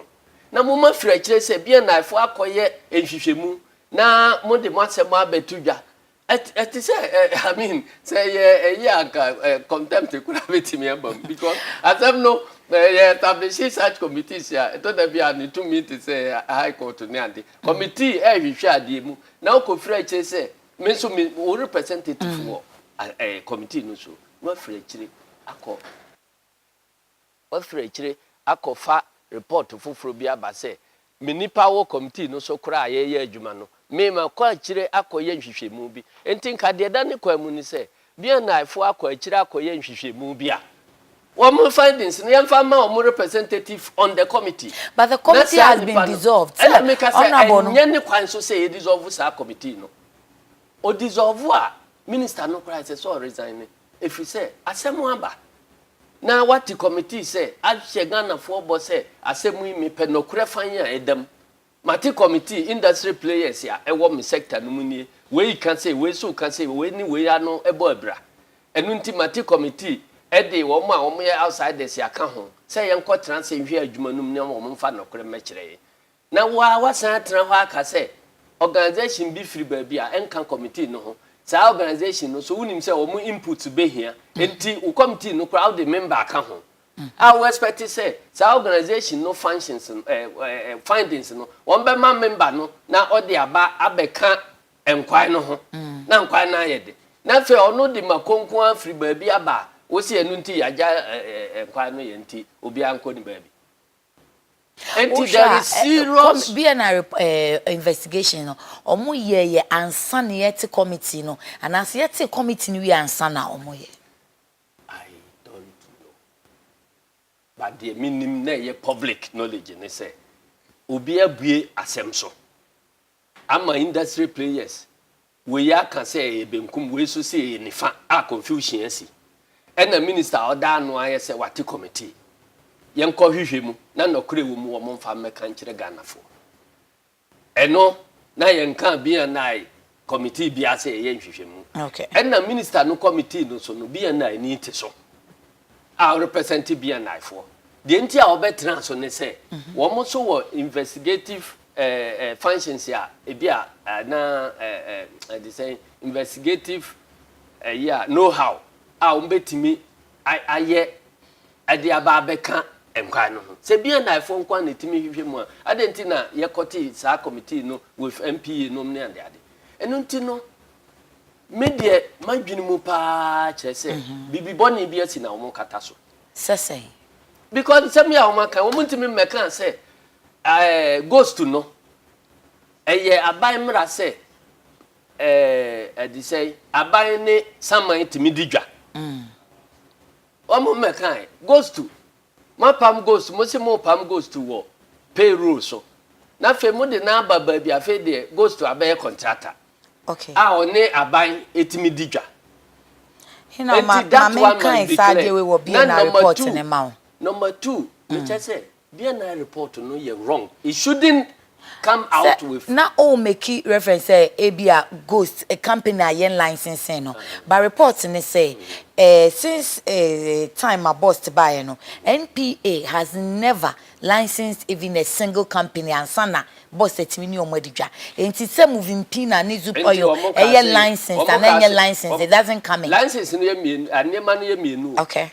na mo ma firi akyire sɛ bia na ɛfo akɔyɛ nhwehwɛmu na mo de mo asɛm abɛto dwa Ɛte sɛ I mean sɛ yɛ ɛyɛ anka contempt kura betumi aba mu because asɛm no yɛ establish such committees a ɛtɔ da bi a ne tumi te sɛ high court ne ade mm. committee ɛhwehwɛ adeɛ mu na ɔkɔfiri akyire sɛ me nso me wo representative mm. wɔ ɛɛ committee no so na wafiri akyire akɔ Wafiri akyire akɔfa repɔɔto foforɔ bi aba sɛ, me nnipa wɔ kɔmitii no so koraa a yɛreyɛ adwuma no, me makɔ akyire akɔyɛ nhwehwɛmu bi. Enti nka deɛ ɛda ne kwan mu ne sɛ, BNIfoɔ akɔ akyire akɔyɛ nhwehwɛmu bi a, wɔn findings no yɛmfa mma wɔn representative on the committee, But the na committee saa has been nnipa no, dissolved. Sɛ ɛna meka sɛ Honourable no. ɛnyɛ ne kwan so sɛ yɛdisɔlvo saa kɔmitii no. Ɔdisɔlvo a, Minister no koraa ɛsɛ sɛ ɔresign. Ɛfiri sɛ asɛm aba na wɔate kɔmitii sɛ ahyɛ Ghanafoɔ bɔ sɛ asɛm yi mepɛ nɔkorɛ fann a ɛda mu. Mate kɔmitii, industry players a ɛwɔ me sector no mu nie, wei ka sei, wei nso ka sei, wei ne wei ano bɔ abira. Ɛno nti mate kɔmitii, ɛde wɔn a wɔyɛ outsiders a ka ho, sɛ yɛnkɔtena ase nhwɛ adwuma no mu na wɔmfa nɔkorɛ mmɛkyerɛ yɛn. Na wo ara woasan atena hɔ aka sɛ organisation bi firi baabi a ɛnka committee no ho. Saa organisation no nso wonim sɛ wɔn inputs bɛhia. Enti wo committee no koraa wode member aka ho a wo expect sɛ saa organisation no functions no, eh, eh, eh, findings no wɔbɛma member no na ɔde aba abɛka nkwae no ho na nkwae no ayɛ de. Na afei ɔno de mako nko ara firi baabi aba a wo se ɛno nti yɛagya eh, eh, nkwae no yɛ nti obiara nkɔ ne baabi. Enti there is serious. Wohwɛ a eh, BNR eh, investigation no, ɔmo yɛ yɛ ansa na yɛte committee no, anaasɛ yɛte committee no wie ansa na ɔmo yɛ? I don't know. But deɛ menim na ɛyɛ public knowledge ne sɛ, obi abue asɛm so ama industry players Wei aka sɛ ɛyɛ benkum, wei nso se ɛyɛ nifa a confusion asi. Ɛna minister a ɔda ano ayɛ sɛ wate committee. Yɛnkɔ hwehwɛ mu na nɔkorɛ ɛwɔ mu wɔn mfa mmɛka nkyerɛ Ghanafoɔ. Ɛno na yɛnkaa BNI committee biara sɛ yɛyɛ nhwehwɛmu. Ɛna minister no committee no so no BNI ni te so. a ɔrepresente BNIfoɔ. Deɛ nti a wɔbɛtena so ne sɛ mhm. wɔn nso wɔ investigative eh, eh, functions a ebi a eh, na eh, eh, de sɛ investigative eh, yeah, know how a wɔbɛtumi ayɛ de aba abɛka nkwan no ho sɛ bia naefoɔ nkwan na ɛtumi hwehwɛ mu a adɛn nti na yɛkɔte saa committee no with mpe nom ne adeade ɛno nti no Me deɛ m'adwene mu paa kyerɛ sɛ biribi bɔne bi asi na wɔkata so. Sɛ sɛn? Because nsɛm bi a wɔaka, wɔntumi mmɛka sɛ ɛɛ ghost no ɛyɛ aban mmara sɛ ɛɛ ɛde sɛ aban ne saman tumi di dwa. Wɔn mmɛka ghost Moapam ghost, mose mopam ghost wɔ pay roll so, na afei mode no aba baabi a afei deɛ ghost abɛyɛ contractor okay. a ɔne aban ɛtumi di dwa. Hena, ma, ma menkan saa adeɛ wei wɔ BNI report ne ma wo. Number two, mekyɛ sɛ BNI report no yɛ wrong. It shouldn't Sɛ na ɔɔ meki reference sɛ ebia ghost company a yɛn license no but report ne sɛ eh since eh time a Bost baeɛ no NPA has never licensed even a single company ansa na Bost atumi ne ɔmo adi dwa enti sɛ Movimpina ne Zoop oil ɛyɛ licensed anaa ɛnyɛ licensed it doesn't come in. Okay.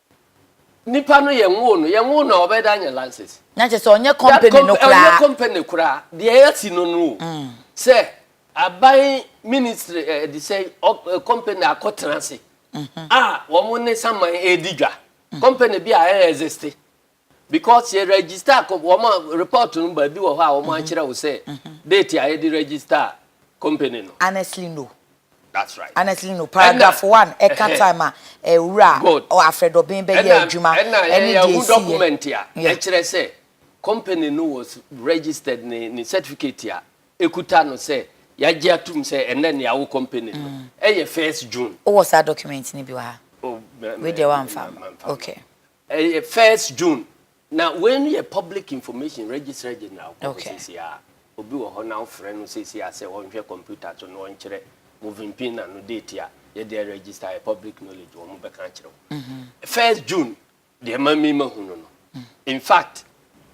Nipa no yɛn woo no, yɛn woo no a ɔbɛyɛ dɛ anyɛ lances. Na kyerɛ sɛ ɔnyɛ company no koraa. Ɔnyɛ company koraa, deɛ yɛasi no no o. Sɛ aban ministry ɛde sɛ company akɔ tena ase a wɔn ne saman ɛredi dwa. Company bi a ɛrɛ existe. Because yɛ register com wɔn a report no baabi wɔ hɔ a wɔn akyerɛ wo sɛ date a yɛde register company no. Honestly no. That's right. Honestly no. Paragraph one ɛka time a owura Afrɛdɔben bɛyɛ adwuma ɛne deɛ ɛsi yɛ. Ɛna yɛhu document a ɛkyerɛ sɛ company no was registered ne ne certificate a ekuta no sɛ yagye atum sɛ ɛnɛ ne awo company no ɛyɛ first June. Wowɔ saa document no bi wɔ ha? Wei deɛ wamfa. Okay. Ɛyɛ first June na wei no yɛ public information registra general kɔ hɔ sisi a obi wɔ hɔ na wofrɛ no sisi a sɛ ɔnhwɛ computer so na ɔnkyerɛ moving pina no date a yɛde register yɛ public knowledge wɔn bɛka akyerɛ wo mhm. first June deɛ ma mi ma hu no no mhm. in fact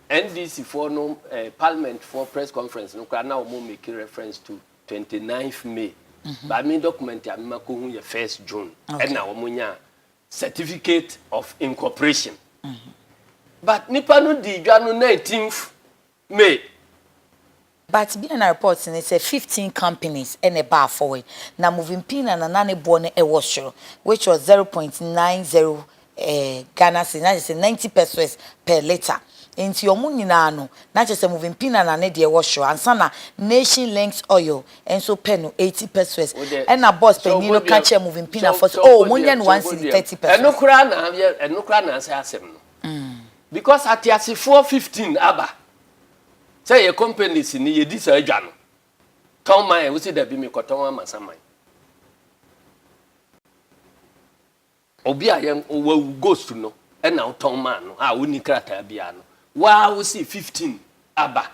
NDC foɔ no eh, parliament foɔ press conference no koraa na wɔn make reference to 29th May mhm. ba mi document a mi ma ko hu yɛ first June ɛna wɔn nya Certificate of Incorporation. But nnipa no dii dwa no nineteenth May. But bia na reports ne sɛ fifteen companies na ɛbaa forward na Movimpiina na na ne boɔ no ɛwɔ soro which was zero point nine zero Ghana cedis na kyerɛ sɛ ninety pesoes per litre nti wɔn nyinaa no na kyerɛ sɛ Movimpiina na ne deɛ ɛwɔ soro ansa na Nation Links Oil nso pɛ no eighty pesewas ɛna bɔs panyin no ka kyerɛ moving pinafɔ sɛ oh monyɛ no one cedi thirty pesewas. Ɛno koraa na yɛ ɛno koraa na asɛ asɛm no because ateasefoɔ fifteen aba sɛ yɛ companies ni yɛdi saa dwa no tɔn man wosi dabi mekɔtɔn ama saman. Obi a yɛn wawu ghost no na wo tɔn maa no a onni krataa biara no waa wo se fifteen aba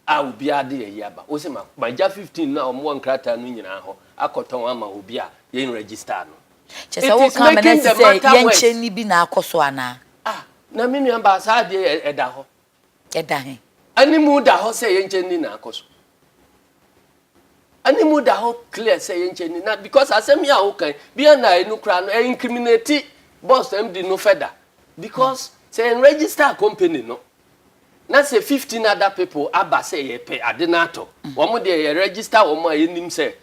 a obiara de ayi aba wo se ma ma gya fifteen no a wɔn wɔ nkrataa no nyinaa hɔ akɔ tɔn ama obi a yɛn register no Kyerɛ sɛ it is woka ma no making asi the sɛ matter worse. yɛnkyɛ nni bi na akɔ so anaa? Ah na me nua baa saa adeɛ yi ɛda hɔ Ɛda he? Animu da hɔ sɛ yɛnkyɛ nni na akɔ so. Animu da hɔ clear sɛ yɛnkyɛ nni na because asɛm yi a woka yi, bi a na ɛno koraa no, ɛincriminate boss MD no further because sɛ yɛn register company no na sɛ fifteen other people aba sɛ yɛpɛ ade no atɔ, wɔn deɛ yɛ register wɔn a yɛnim sɛ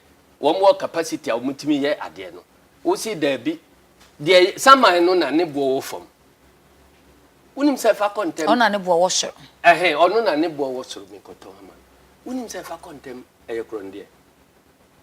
wɔn wɔ capacity a wɔtumi yɛ adeɛ no. Wose daabi, deɛ saman no na ne boɔ wɔ fam. wonim sɛ fa kɔ ntɛm. ɔna ne boɔ wɔ soro. ɛhɛn ɔno na ne boɔ wɔ soro mekɔtɔn ama no wonim sɛ fa kɔ ntɛm ɛyɛ korɔn deɛ.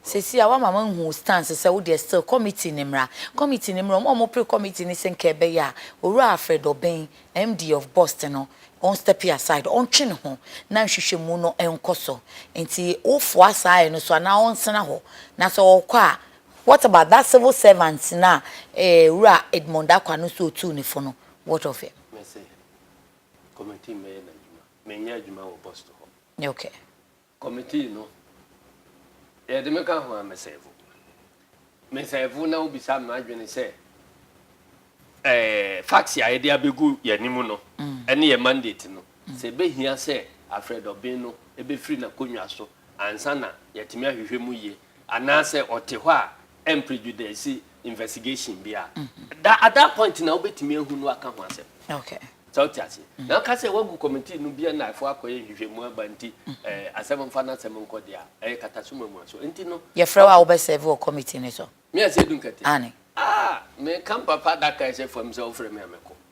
Sɛsi a wama mahu wo stance sɛ wo deɛ still committee no mmra committee no mmra ɔmo a ɔmo pre committee no sɛ nka ɛbɛyɛ a Owura Alfred Obeng MD of Bust no ɔn stepi aside ɔntwe ne ho na nhwehwɛmu no nkɔ so nti wo foa saa ayɛ no so anaa ɔnsena hɔ na sɛ ɔkɔ a What about that civil servant no a Owura Edmond Acquah no so otuu no fo no, what of him? Me se committee mmɛyɛ n'adwuma. Menyɛ adwuma wɔ Boston hɔ. Okay. Committee no, yɛde me ka ho a me serve. Me serve na wobisa me m'adwene sɛ eh, facts a yɛde abegu yɛn anim no ne yɛn mandate no, sɛ ebehia sɛ Alfred Obeng no befiri n'akonnwa so ansa na yɛatumi ahwehwɛ mu yie Anaasɛ ɔte hɔ a ɛmprejudaise investigation bi a, da at that point na wobɛtumi ahu no aka ho asɛm. Okay. Sɛ wote aseɛ. Na woka sɛ woagu committee no bia na ɛfoɔ akɔyɛ nhwehwɛmu aba nti ɛɛ asɛm mfa n'asɛm nkɔ deɛ a, ɛyɛ katasoma mu aso. Nti no. Yɛfrɛ wo a wobɛ serve wɔ committee no so. Me Asiedu Nkɛtɛ? Aane. Ah! Me Kampa pa da kae sɛ fam sɛ wofrɛ me a mɛkɔ.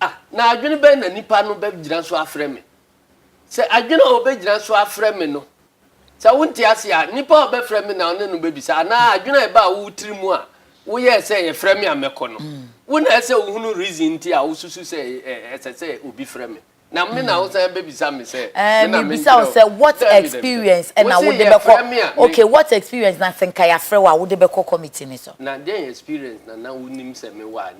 Ah, na adwene bɛn na nnipa no bɛgyina so afrɛ me? Sɛ adwene a wɔbɛgyina so afrɛ me no, sɛ wonte ase a, nnipa a wɔbɛfrɛ me na ɔne no bɛbisa, anaa adwene a ɛbaa wo tiri mu a woyɛɛ sɛ yɛfrɛ me a mɛkɔ no, mm. wo na ɛsɛ wohunu reason nti a wosusu sɛ ɛsɛ sɛ obi frɛ me na me na mm. wosan bɛbisa me sɛ eh, mebisa wo sɛ what experience ɛna wode bɛkɔ okay what experience na sɛ nka yɛafrɛ wo a wode bɛkɔ committee ne so na dɛn experience na na wonim sɛ mewɔ a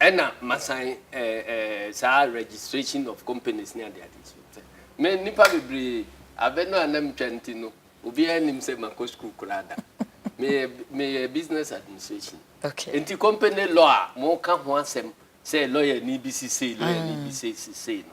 Ɛna masan saa registration of companies ne ade ade so sɛ me nnipa bebree abɛ no a na metwa nti no obiara nim sɛ makɔ sukuu koraa da meyɛ meyɛ business administration nti company law a moka ho asɛm sɛ lɔyani bi sisei lɔyani bi sisei no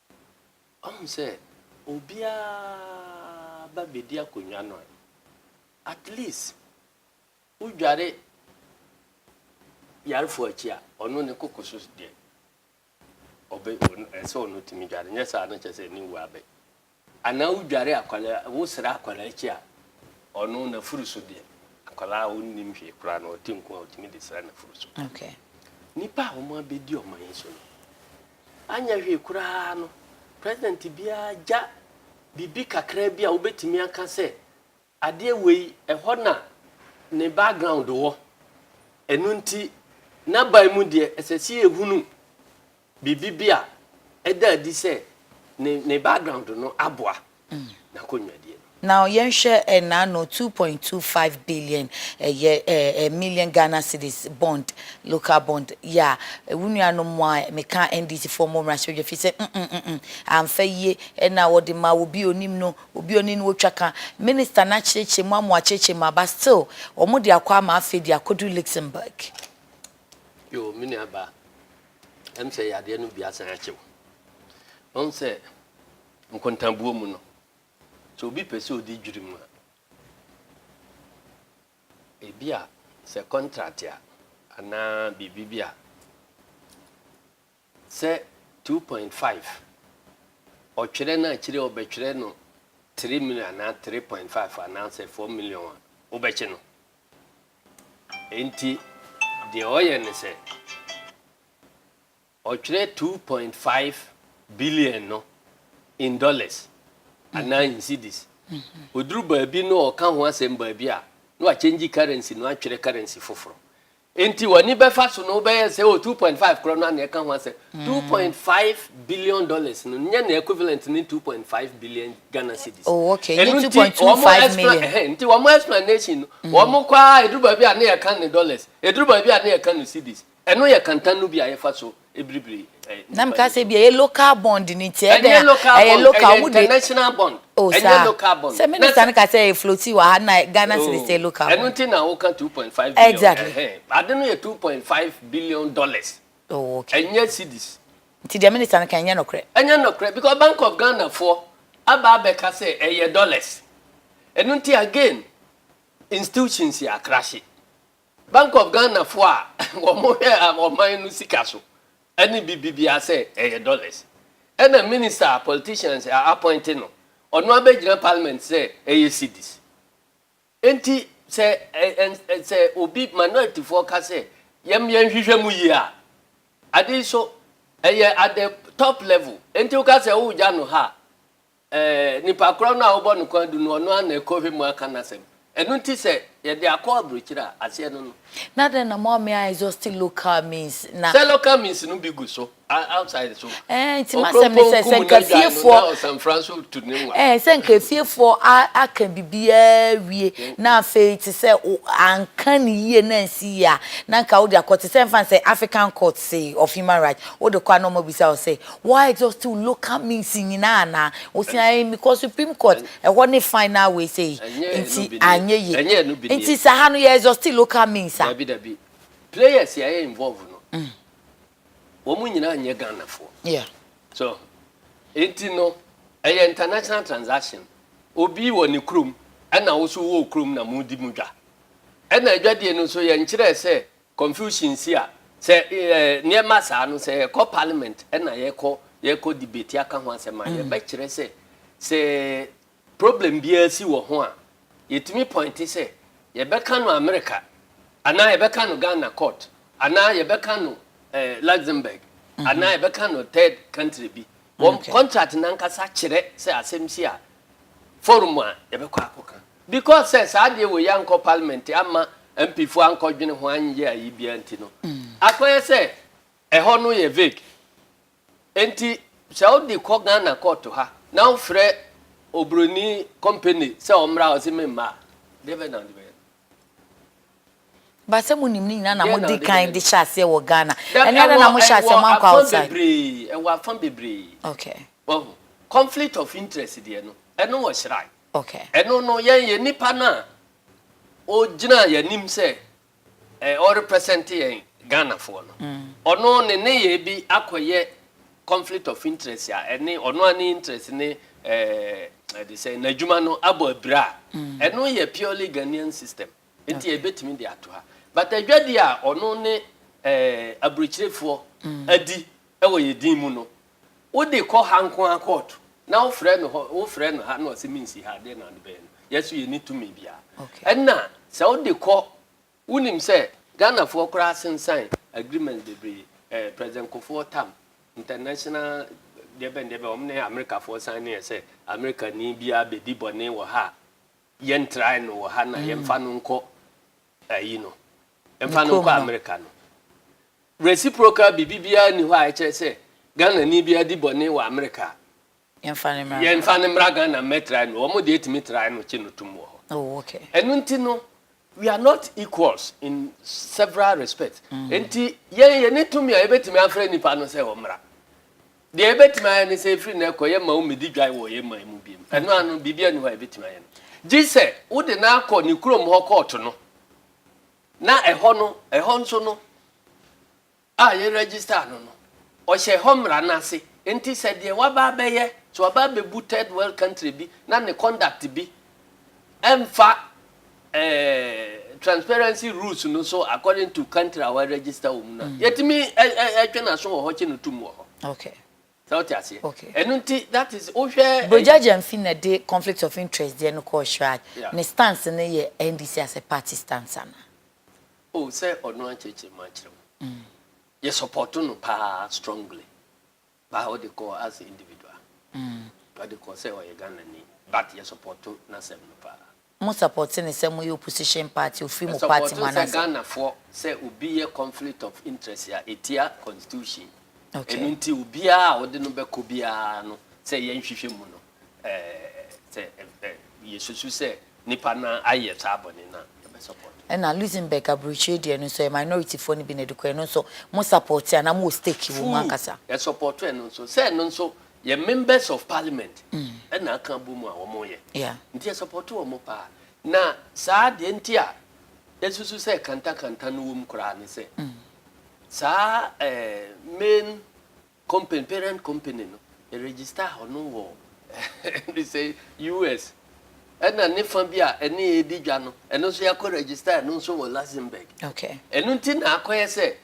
Ɔhu sɛ obiara ba bedi akonnwa no a, at least wodware yarefo akyi a, ɔno ne koko so deɛ, ɔbɛ ɛsɛ ɔno tumi dware, nyɛ saa no kyɛ sɛ ne wu abɛ. Anaa wodware akwadaa, wosra akwadaa akyi a, ɔno n'afuru so deɛ, akwadaa a ɔnnim hwee koraa no, ɔte nko a ɔtumi de sra n'afuru so. Okay. Nnipa a wɔabɛdi ɔman yi so no, Anyɛ hwee koraa no, president biara gya biribi kakraa bi a wobɛtumi aka sɛ adeɛ wei ɛhɔ na ne background wɔ. Ɛno nti n'aban mu deɛ ɛsɛ sɛ yɛhunu biribi bi a ɛda adi sɛ ne ne background no aboa. n'akonnwa die no. Now yɛnhwɛ ɛnaano two point two five billion ɛyɛ ɛɛ million Ghana cedis bond local bond yɛ a wo nuanom mo a meka NDC foɔ mo mmra sodwe fi sɛ mm mm mm amfa yie ɛna wɔde ma obi a onim no obi a ɔne no ɔtwa ka minister no akyerɛkyerɛ mu ama wɔakyerɛkyerɛ mu a but still wɔn de akɔ ama afei de akɔdu Luxembourg. Yoo me nua baa ɛm sɛ yadeɛ no bi asan akyɛw wɔn sɛ. Nkontabuo mu no, sɛ obi pɛ sɛ ɔdi dwirim a, ebia sɛ kɔntrat a anaa biribi bi a, sɛ two point five, ɔtwerɛ no a akyire yi ɔbɛtwerɛ no three million anaa three point five anaasɛ four million a, wobɛkye no. Enti deɛ ɔyɛ ne sɛ. Ɔtwerɛ two point five billion no in dollars anaa in cedis. Ɔduru baabi no ɔka ho asɛm baabi a, na wakyɛngyi currency no atwerɛ currency foforɔ. Enti w'ani bɛfa so no wobɛyɛ sɛ oh two point five korɔ no ara na ɛka ho asɛm. Two point five billion dollars no nyɛ ne equivalent ne two point five billion Ghana cedis. Oh okay, ɛno nti wɔn explanation nti wɔn explanation no wɔn kɔ ara ɛduru baabi a na yɛka no dollars, ɛduru baabi a na yɛka no cedis. Ɛno yɛ kantan no bi a yɛfa so biribiri nnipa no so. Na meka sɛ ebia ɛyɛ local bond no nti, ɛdɛn a ɛyɛ local bond, ɛyɛ local, ɛyɛ international bond, oh, ɛnyɛ local bond. Sɛ minister no ka sɛ floating wɔ ha na Ghana cedis oh, yɛ local bond. Ɛno nti na woka 2.5 billion. Exactly. Ade no yɛ 2.5 billion dollars. Oh, okay. Ɛnyɛ cedis. Nti deɛ minister no ka ɛnyɛ nokorɛ. Ɛnyɛ nokorɛ because Bank of Ghana foɔ aba abɛka sɛ ɛyɛ dollars. Ɛno nti again institutions yɛ akrahye. Bank of Ghana foɔ a wɔhwɛ ɔman no sika so ne bibi biara sɛ ɛyɛ dollars. Ɛna minister a politicians a appoint no, ɔno abɛgyina parliament sɛ ɛyɛ cedis. Enti sɛ sɛ obi minority foɔ ka sɛ yɛm yɛnhwehwɛ mu yie a, ade yi so ɛyɛ at the top level. Enti woka sɛ wogya no ha a, Ɛɛ, nipa korɔ no a wobɔ no kɔn adu no, ɔno ara na ɛkɔhwɛ mu aka n'asɛm. Ɛno nti sɛ yɛde akɔ aburokyire a, aseɛ no no. Na dɛn na moamee a exhausting local means na. Sɛ local means no bi gu so a outside so. Ɛɛ, nti m'asɛm ne sɛ, sɛ nka efiefoɔ. Ɔkorɔmpɔn kum n'agyae no na ɔsanfra nso tu ne nwa. Ɛɛ, sɛ nka efiefoɔ a aka biribiara awie na afei te sɛ wo anka no yie na ansi yie a, na nka wode akɔ te sɛ ɛmfa no sɛ African Courts of Human Rights, wode kɔ a na wɔabisa wo sɛ, Wa exhaustiw local means nyinaa anaa? Wo se ae because supreme court ɛhɔ ne final wei sei nti anyɛ ye. Nti sa ha no yɛ exhausti local means a? Dabi dabi. Players a ɛyɛ involve no wɔn nyinaa nyɛ Ghana foɔ. Yeah. So ho. Nti no ɛyɛ international transaction. Obi wɔ ne kurom ɛna wo so wowɔ wo kurom na mo di mo dwa. Ɛna adwadie no nso yɛnkyerɛɛ sɛ Confusion si a, sɛ nneɛma saa no, sɛ yɛkɔ parliament na yɛkɔ yɛkɔ debate aka ho asɛm a, yɛbɛkyerɛ sɛ sɛ problem biara si wɔ ho a, yɛtumi pɔinte sɛ yɛbɛka no America anaa yɛbɛka no Ghana court anaa yɛbɛka no Luxembourg anaa yɛbɛka no third country bi. Wɔn contract no ankasa kyerɛ sɛ asɛm si a forum a yɛbɛkɔ akɔka. Because sɛ saa adeɛ wei ankɔ parliament amma MP foɔ ankɔdwene ho anyɛ ayi biara nti no, akɔyɛ sɛ ɛhɔ no yɛ vague. Enti sɛ wode kɔ Ghana court ha na wofrɛ oburoni company sɛ ɔmmra hɔ se memmra a, deɛ bɛn na wode bɛyɛ? Ba sɛ mo nim ne nyinaa na mo di kan de hyɛ aseɛ wɔ Ghana ɛne adɛn na mo hyɛ aseɛ mo ankɔ outside. Ɛwɔ afã bebree ɛwɔ afã bebree. Okay. Wahu conflict of interest deɛ no ɛno wɔ shrine. Okay. Ɛno no yɛn yɛ nipa no a ɔgyina yɛn anim sɛ ɛɛ ɔ represent yɛn Ghana foɔ no ɔno ne ne yɛ bi akɔ yɛ conflict of interest a ɛne ɔno ara ne interest ne ɛɛ ɛde sɛ n'adwuma no abɔ abira a ɛno yɛ purely Ghanaian system. Nti yɛbɛtumi de ato ha. But adwadie a ɔno ne eh, aburokyirefoɔ mm. adi wɔ yɛ din mu no, wode kɔ ha nko ara kɔɔto na wofrɛ no hɔ wofrɛ no ha na ɔsɛ mensi ha deɛ na ade bɛyɛ no yɛso yɛni tumi biara ɛna sɛ wode kɔ wonim sɛ ghanafoɔ koraa asensan agreement bebree eh, president kofoɔ tam international deɛ bɛn deɛ bɛn wɔn ne amerikafoɔ san ne yɛ sɛ amerikani biara bɛdi bɔne wɔ ha Yɛn try no wɔ ha na yɛn fa no nkɔ ayi no, yɛn fa no nkɔ America no. Reciprocal biribi biara ni hɔ a ɛkyerɛ sɛ Ghana ni biara di bɔne wɔ America a, yɛn fa no mmra Ghana mmɛ try no, wɔn deɛ etumi try no kye no tum wɔ hɔ. Ɛno nti no We are not equals in several respects. Nti yɛn yɛne tumi a yɛbɛtumi afrɛ nnipa no sɛ wɔmmra. Deɛ yɛbɛtumi ayɛ ne sɛ ɛfiri nnɛ kɔ yɛmma wɔmmɛdi dwan wɔ yɛn man mu biom. Ɛno ara no, biribi ani hɔ a yɛbɛtumi ayɛ no. Gye sɛ wode no akɔ ne kurom hɔ kɔɔto no, na ɛhɔ no, ɛhɔ nso no, a yɛ register no no, ɔhyɛ hɔ mmara no ase. Nti sɛ deɛ waba abɛyɛ, sɛ waba abɛbu third world country bi na ne conduct bi ɛmfa ɛɛ transparency rules no so according to country a wa register wɔ mu no a, mm. yɛtumi ɛ ɛ ɛtwe n'aso wɔ hɔ kye no tum wɔ hɔ. Okay. sɛ wote aseɛ okay. ɛno nti that is wohwɛ brogya gyamfi na de conflict of interest deɛ no kɔɔ shrad yeah. ne stance no yɛ ndc as a party stance ana Oh sɛ ɔno ankyerɛkyerɛ mu ankyerɛ wo yɛ support no paa strongly but ɔde kɔ as a individual ɔde kɔ sɛ ɔyɛ Ghana ni but yɛ support n'asɛm no paa. Mo support no sɛ moyɛ opposition party ofiri mo party mu anaasɛ. Yɛ support no sɛ Ghana foɔ sɛ obi yɛ conflict of interest a ɛtia constitution ɛno nti obiara a ɔde no bɛkɔ biara no sɛ yɛnhwehwɛ mu no. Sɛ yɛsusu sɛ nnipa no ara ayɛ saa bɔne no a, yɛbɛ support. Ɛna Luxembourg aburokyire deɛ no nso ɛyɛ minority foɔ no bi na ɛde kɔɛ no nso mo support anaa mo wɔ stake wɔ mu ankasa. Full yɛ support ɛno nso sɛ ɛno nso yɛ members of parliament ɛna aka abɔ mu a wɔn yɛ nti yɛ support wɔn paa na saa deɛ nti a yɛsusu sɛ kanta kanta no wɔ mu koraa ne sɛ saa ɛɛ main Company, parent company no, yɛregister hɔ no wɔ ne sɛ US. Ɛna ne fa bi a ɛne yɛ di dwa no, ɛno nso yɛakɔ register ɛno nso wɔ Luxembourg. Okay. Ɛno nti na akɔyɛ sɛ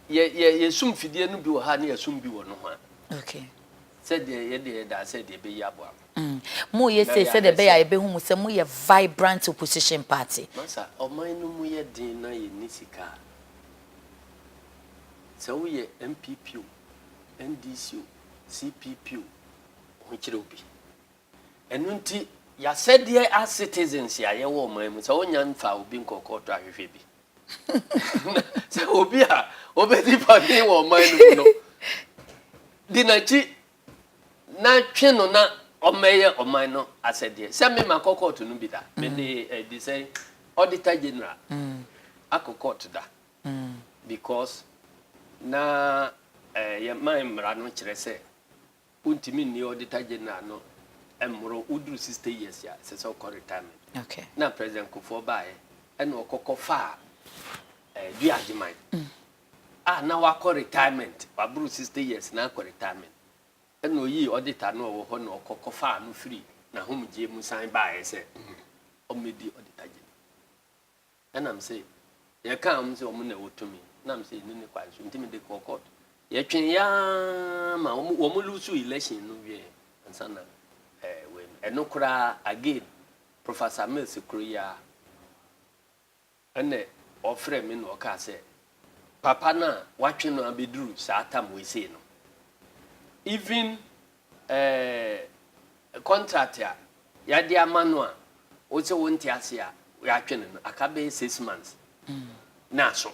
yɛ yɛ yɛsum fidie no bi wɔ ha ne yɛsum bi wɔ nohoa. Okay. Sɛdeɛ yɛde yɛda asɛ deɛ ɛbɛyi aboa mo. Mm. Mo yɛ sɛ sɛ de bɛyɛ a yɛbɛhu mo sɛ mo yɛ vibrant opposition party. Masa, ɔman no mu yɛ den na yɛnni sika a, Sɛ woyɛ NPP o, NDC o, CPP o, ho kyerɛ wo bi. Ɛno nti yɛasɛdeɛ as citizens a yɛwɔ ɔman mu sɛ wonya mfa obi nkɔ kɔɔto ahwehwɛ bi. Sɛ obi a obɛdi bɔne wɔ ɔman no mu no, di n'akyi na twe no na ɔmmɛyɛ ɔman no asɛdeɛ. Sɛ me ma kɔ kɔɔto no bi da. Me de eh, de sɛ auditor general akɔ kɔɔto da. Because na eh, yɛ man mmara no kyerɛ sɛ wontumi nni auditor general no mmoro woduru 60 years a ɛsɛ sɛ ɔkɔ retirement. Okay. Na President Kufuor baeɛ ɛna ɔkɔkɔ faa eh, Duagyeman. a na wakɔ retirement, waboro sixty years na akɔ retirement, ɛna ɔyii auditor no a ɔwɔ hɔ na ɔkɔ kɔfaa no firi n'ahomegyeɛ mu san baeɛ sɛ ɔmmɛdi auditorgye no. Ɛna me se, yɛkaa wɔn sɛ wɔn na ɛwɔ tumi, na me se yɛnni ne kwan so, nti mede kɔɔ court. Yɛtwee aa ma wɔn wɔn lose election no wieɛ ansa na ɛɛ wei no, ɛno koraa again Professor Mills kuro yi ara. Ɛnna ɔfrɛɛ me na ɔkaa sɛ, Papa no a wɔatwe no abɛduru saa tam wei sei no, even eh, contract a yɛde ama no a wo sɛ wonte ase a yɛatwe no no, aka bɛyɛ six months na aso.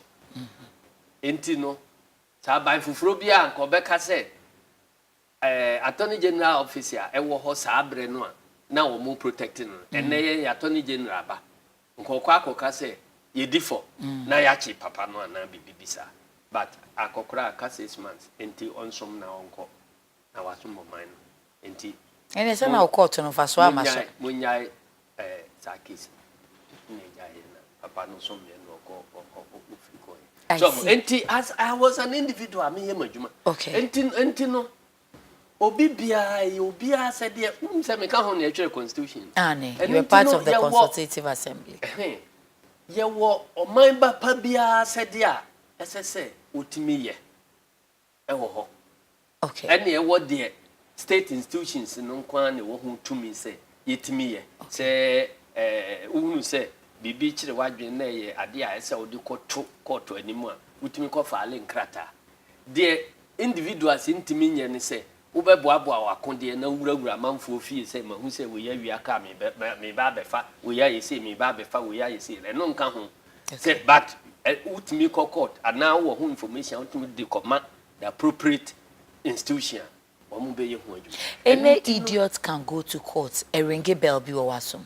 Enti no, sɛ aban foforɔ biara a anka ɔbɛka sɛ Ɛɛ Attorney General Office a ɛwɔ hɔ saa berɛ no a na wɔn protect no no, ɛnnɛ yɛn Attorney General ba, nkɔkɔ akɔka sɛ yɛdi fɔ na yɛakye papa no anaa biribi bi saa. But akɔkora aka six months nti ɔnsom na ɔnkɔ na wasom ɔman no nti. Ɛnneɛ sɛ na wo court no mfasoɔ amma so. Monnyae, monnyae Ɛɛ saa case no na ɛgya yɛ na papa no nso mmɛ na ɔkɔ ɔkɔ ofiri kɔ yɛ. I so see. nti as I was an individual a meyɛ m'adwuma. Okay. Nti nti no obi biara yɛ obiara sɛdeɛ wonim sɛ meka ho na ɛtwerɛ constitution no. Aane, you were part of the consultative assembly. Ɛhɛn, yɛwɔ ɔman ba pa biara sɛdeɛ a ɛsɛ sɛ wɔtumi yɛ. wɔ hɔ. Ɛneɛ wɔ deɛ state institutions no nko ara na ɛwɔ ho tumi sɛ yɛtumi yɛ. Sɛ wohunu sɛ biribi kyere w'adwene na ɛyɛ adeɛ a ɛsɛ wode kɔto kɔɔto anim a, wotumi kɔ faale nkrataa. Deɛ individuals ntumi nyɛ ne sɛ Wobɛboaboa w'akodeɛ na wurawura amanfoɔ fie sɛ, 'Mahu sɛ wei awia kaa me bɛ, bɛ, mereba abɛfa wei ayɛ sei, mereba abɛfa wei ayɛ sei. Ɛno nka ho sɛ, but ɛ, wotumi kɔ court anaa wowɔ ho information a wotumi de kɔma the appropriate institution a wɔbɛyɛ ho adwuma. Ɛno Any nti no. idiot can go to court, ɛringe bell bi wɔ w'asom.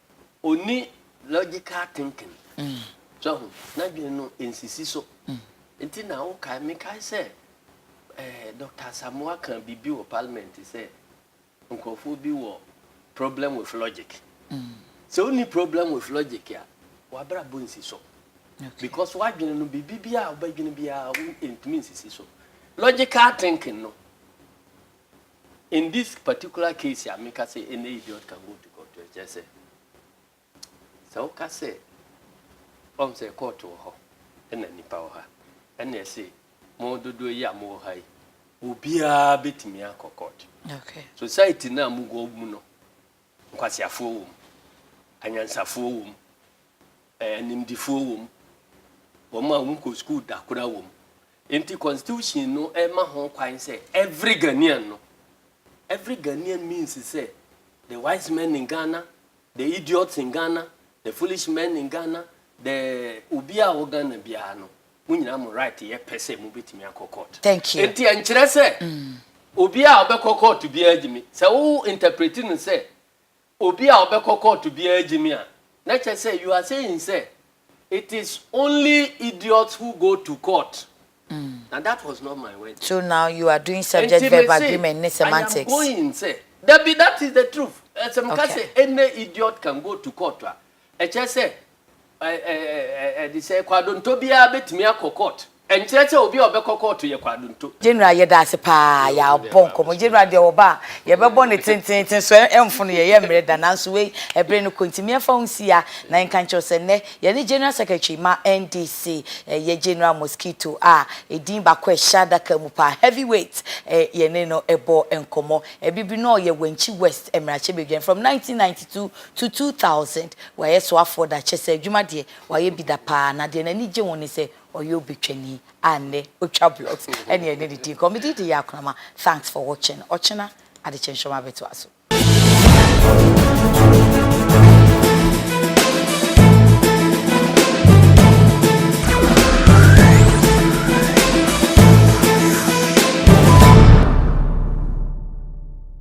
Onni logical thinking. So ahu? N'adwene no nsisi so. Nti na wokae, mekae sɛ eh, Dɔkta Asamoah kaa biribi wɔ parliament sɛ nkurɔfoɔ bi wɔ problem with logic. Sɛ wonni problem with logic a, w'abrabɔ nsi so. Because w'adwene no biribi biara a wobɛdwene biara wo ntumi nsisi so. Logical thinking no, In this particular case a meka sɛ any idiot can go to court kyerɛ sɛ sɛ woka sɛ ɔm sɛ court wɔ hɔ ɛna nnipa wɔ ha ɛna ɛse mo dodoɔ yi a mowɔ ha yi obiara bɛtumi akɔ court okay. society no a mowɔ mu no nkwaseafoɔ wɔ mu anyansafoɔ wɔ mu animdifoɔ wɔ mu wɔn a wɔn kɔ sukuu da kora wɔ mu Enti constitution no ma ho kwan sɛ every Ghanaian no, every Ghanaian means sɛ the wise men in Ghana, the idiots in Ghana, the foolish men in Ghana, the obi a ɔwɔ Ghana biara no, mo nyinaa mo right yɛ pɛ sɛ mobɛtumi akɔ court. Thank you. Enti ɛnkyerɛ sɛ obi a ɔbɛkɔ court biara gyimi. Sɛ wo interprete no sɛ Obi a ɔbɛkɔ kɔɔto biara gye me a, na kyerɛ sɛ you are saying sɛ it is only idiots who go to court. Na that was not my words. So now you are doing subject Enti verb mese, agreement ne I am semantics. going sɛ, dabi, that is the truth. Sɛ meka Okay. sɛ any idiot can go to court a, Ɛkyerɛ sɛ ɛ, ɛ, ɛ, ɛ, de sɛ kwadonto biara bɛtumi akɔ kɔɔt. Ɛnkyerɛ sɛ obi a ɔbɛkɔ kɔɔt yɛ kwadonto. General yɛda ase paa yɛabɔ nkɔmmɔ General deɛ ɔba a yɛbɛbɔ no tenteenten so ɛmfono yɛn yɛmmerɛ da nanso wei ɛbere no kɔ nti meɛmfa ho nsi ha na yɛnka nkyerɛw sɛ nnɛ yɛne General Secretary ma NDC ɛyɛ General Mosquito a ɛdin baako a ɛhyɛ adaka mu paa Heavy Weight ɛ yɛne no ɛbɔ nkɔmmɔ ɛbibire no ɔyɛ Wankyi West mmarahyɛbadwani from 1992 To two thousand, Wayɛ soafoɔ da, kyerɛ sɛ adwuma deɛ wayɛ bi da paa, na deɛ n'ani gye ho ne sɛ ɔyɛ obetwani a nnɛ otwa blocks ɛne ɛne ne di nkɔmmɔ. Me din de Yaa Kunama, thanks for watching, ɔkyena adekye nsoroma bɛtoa so.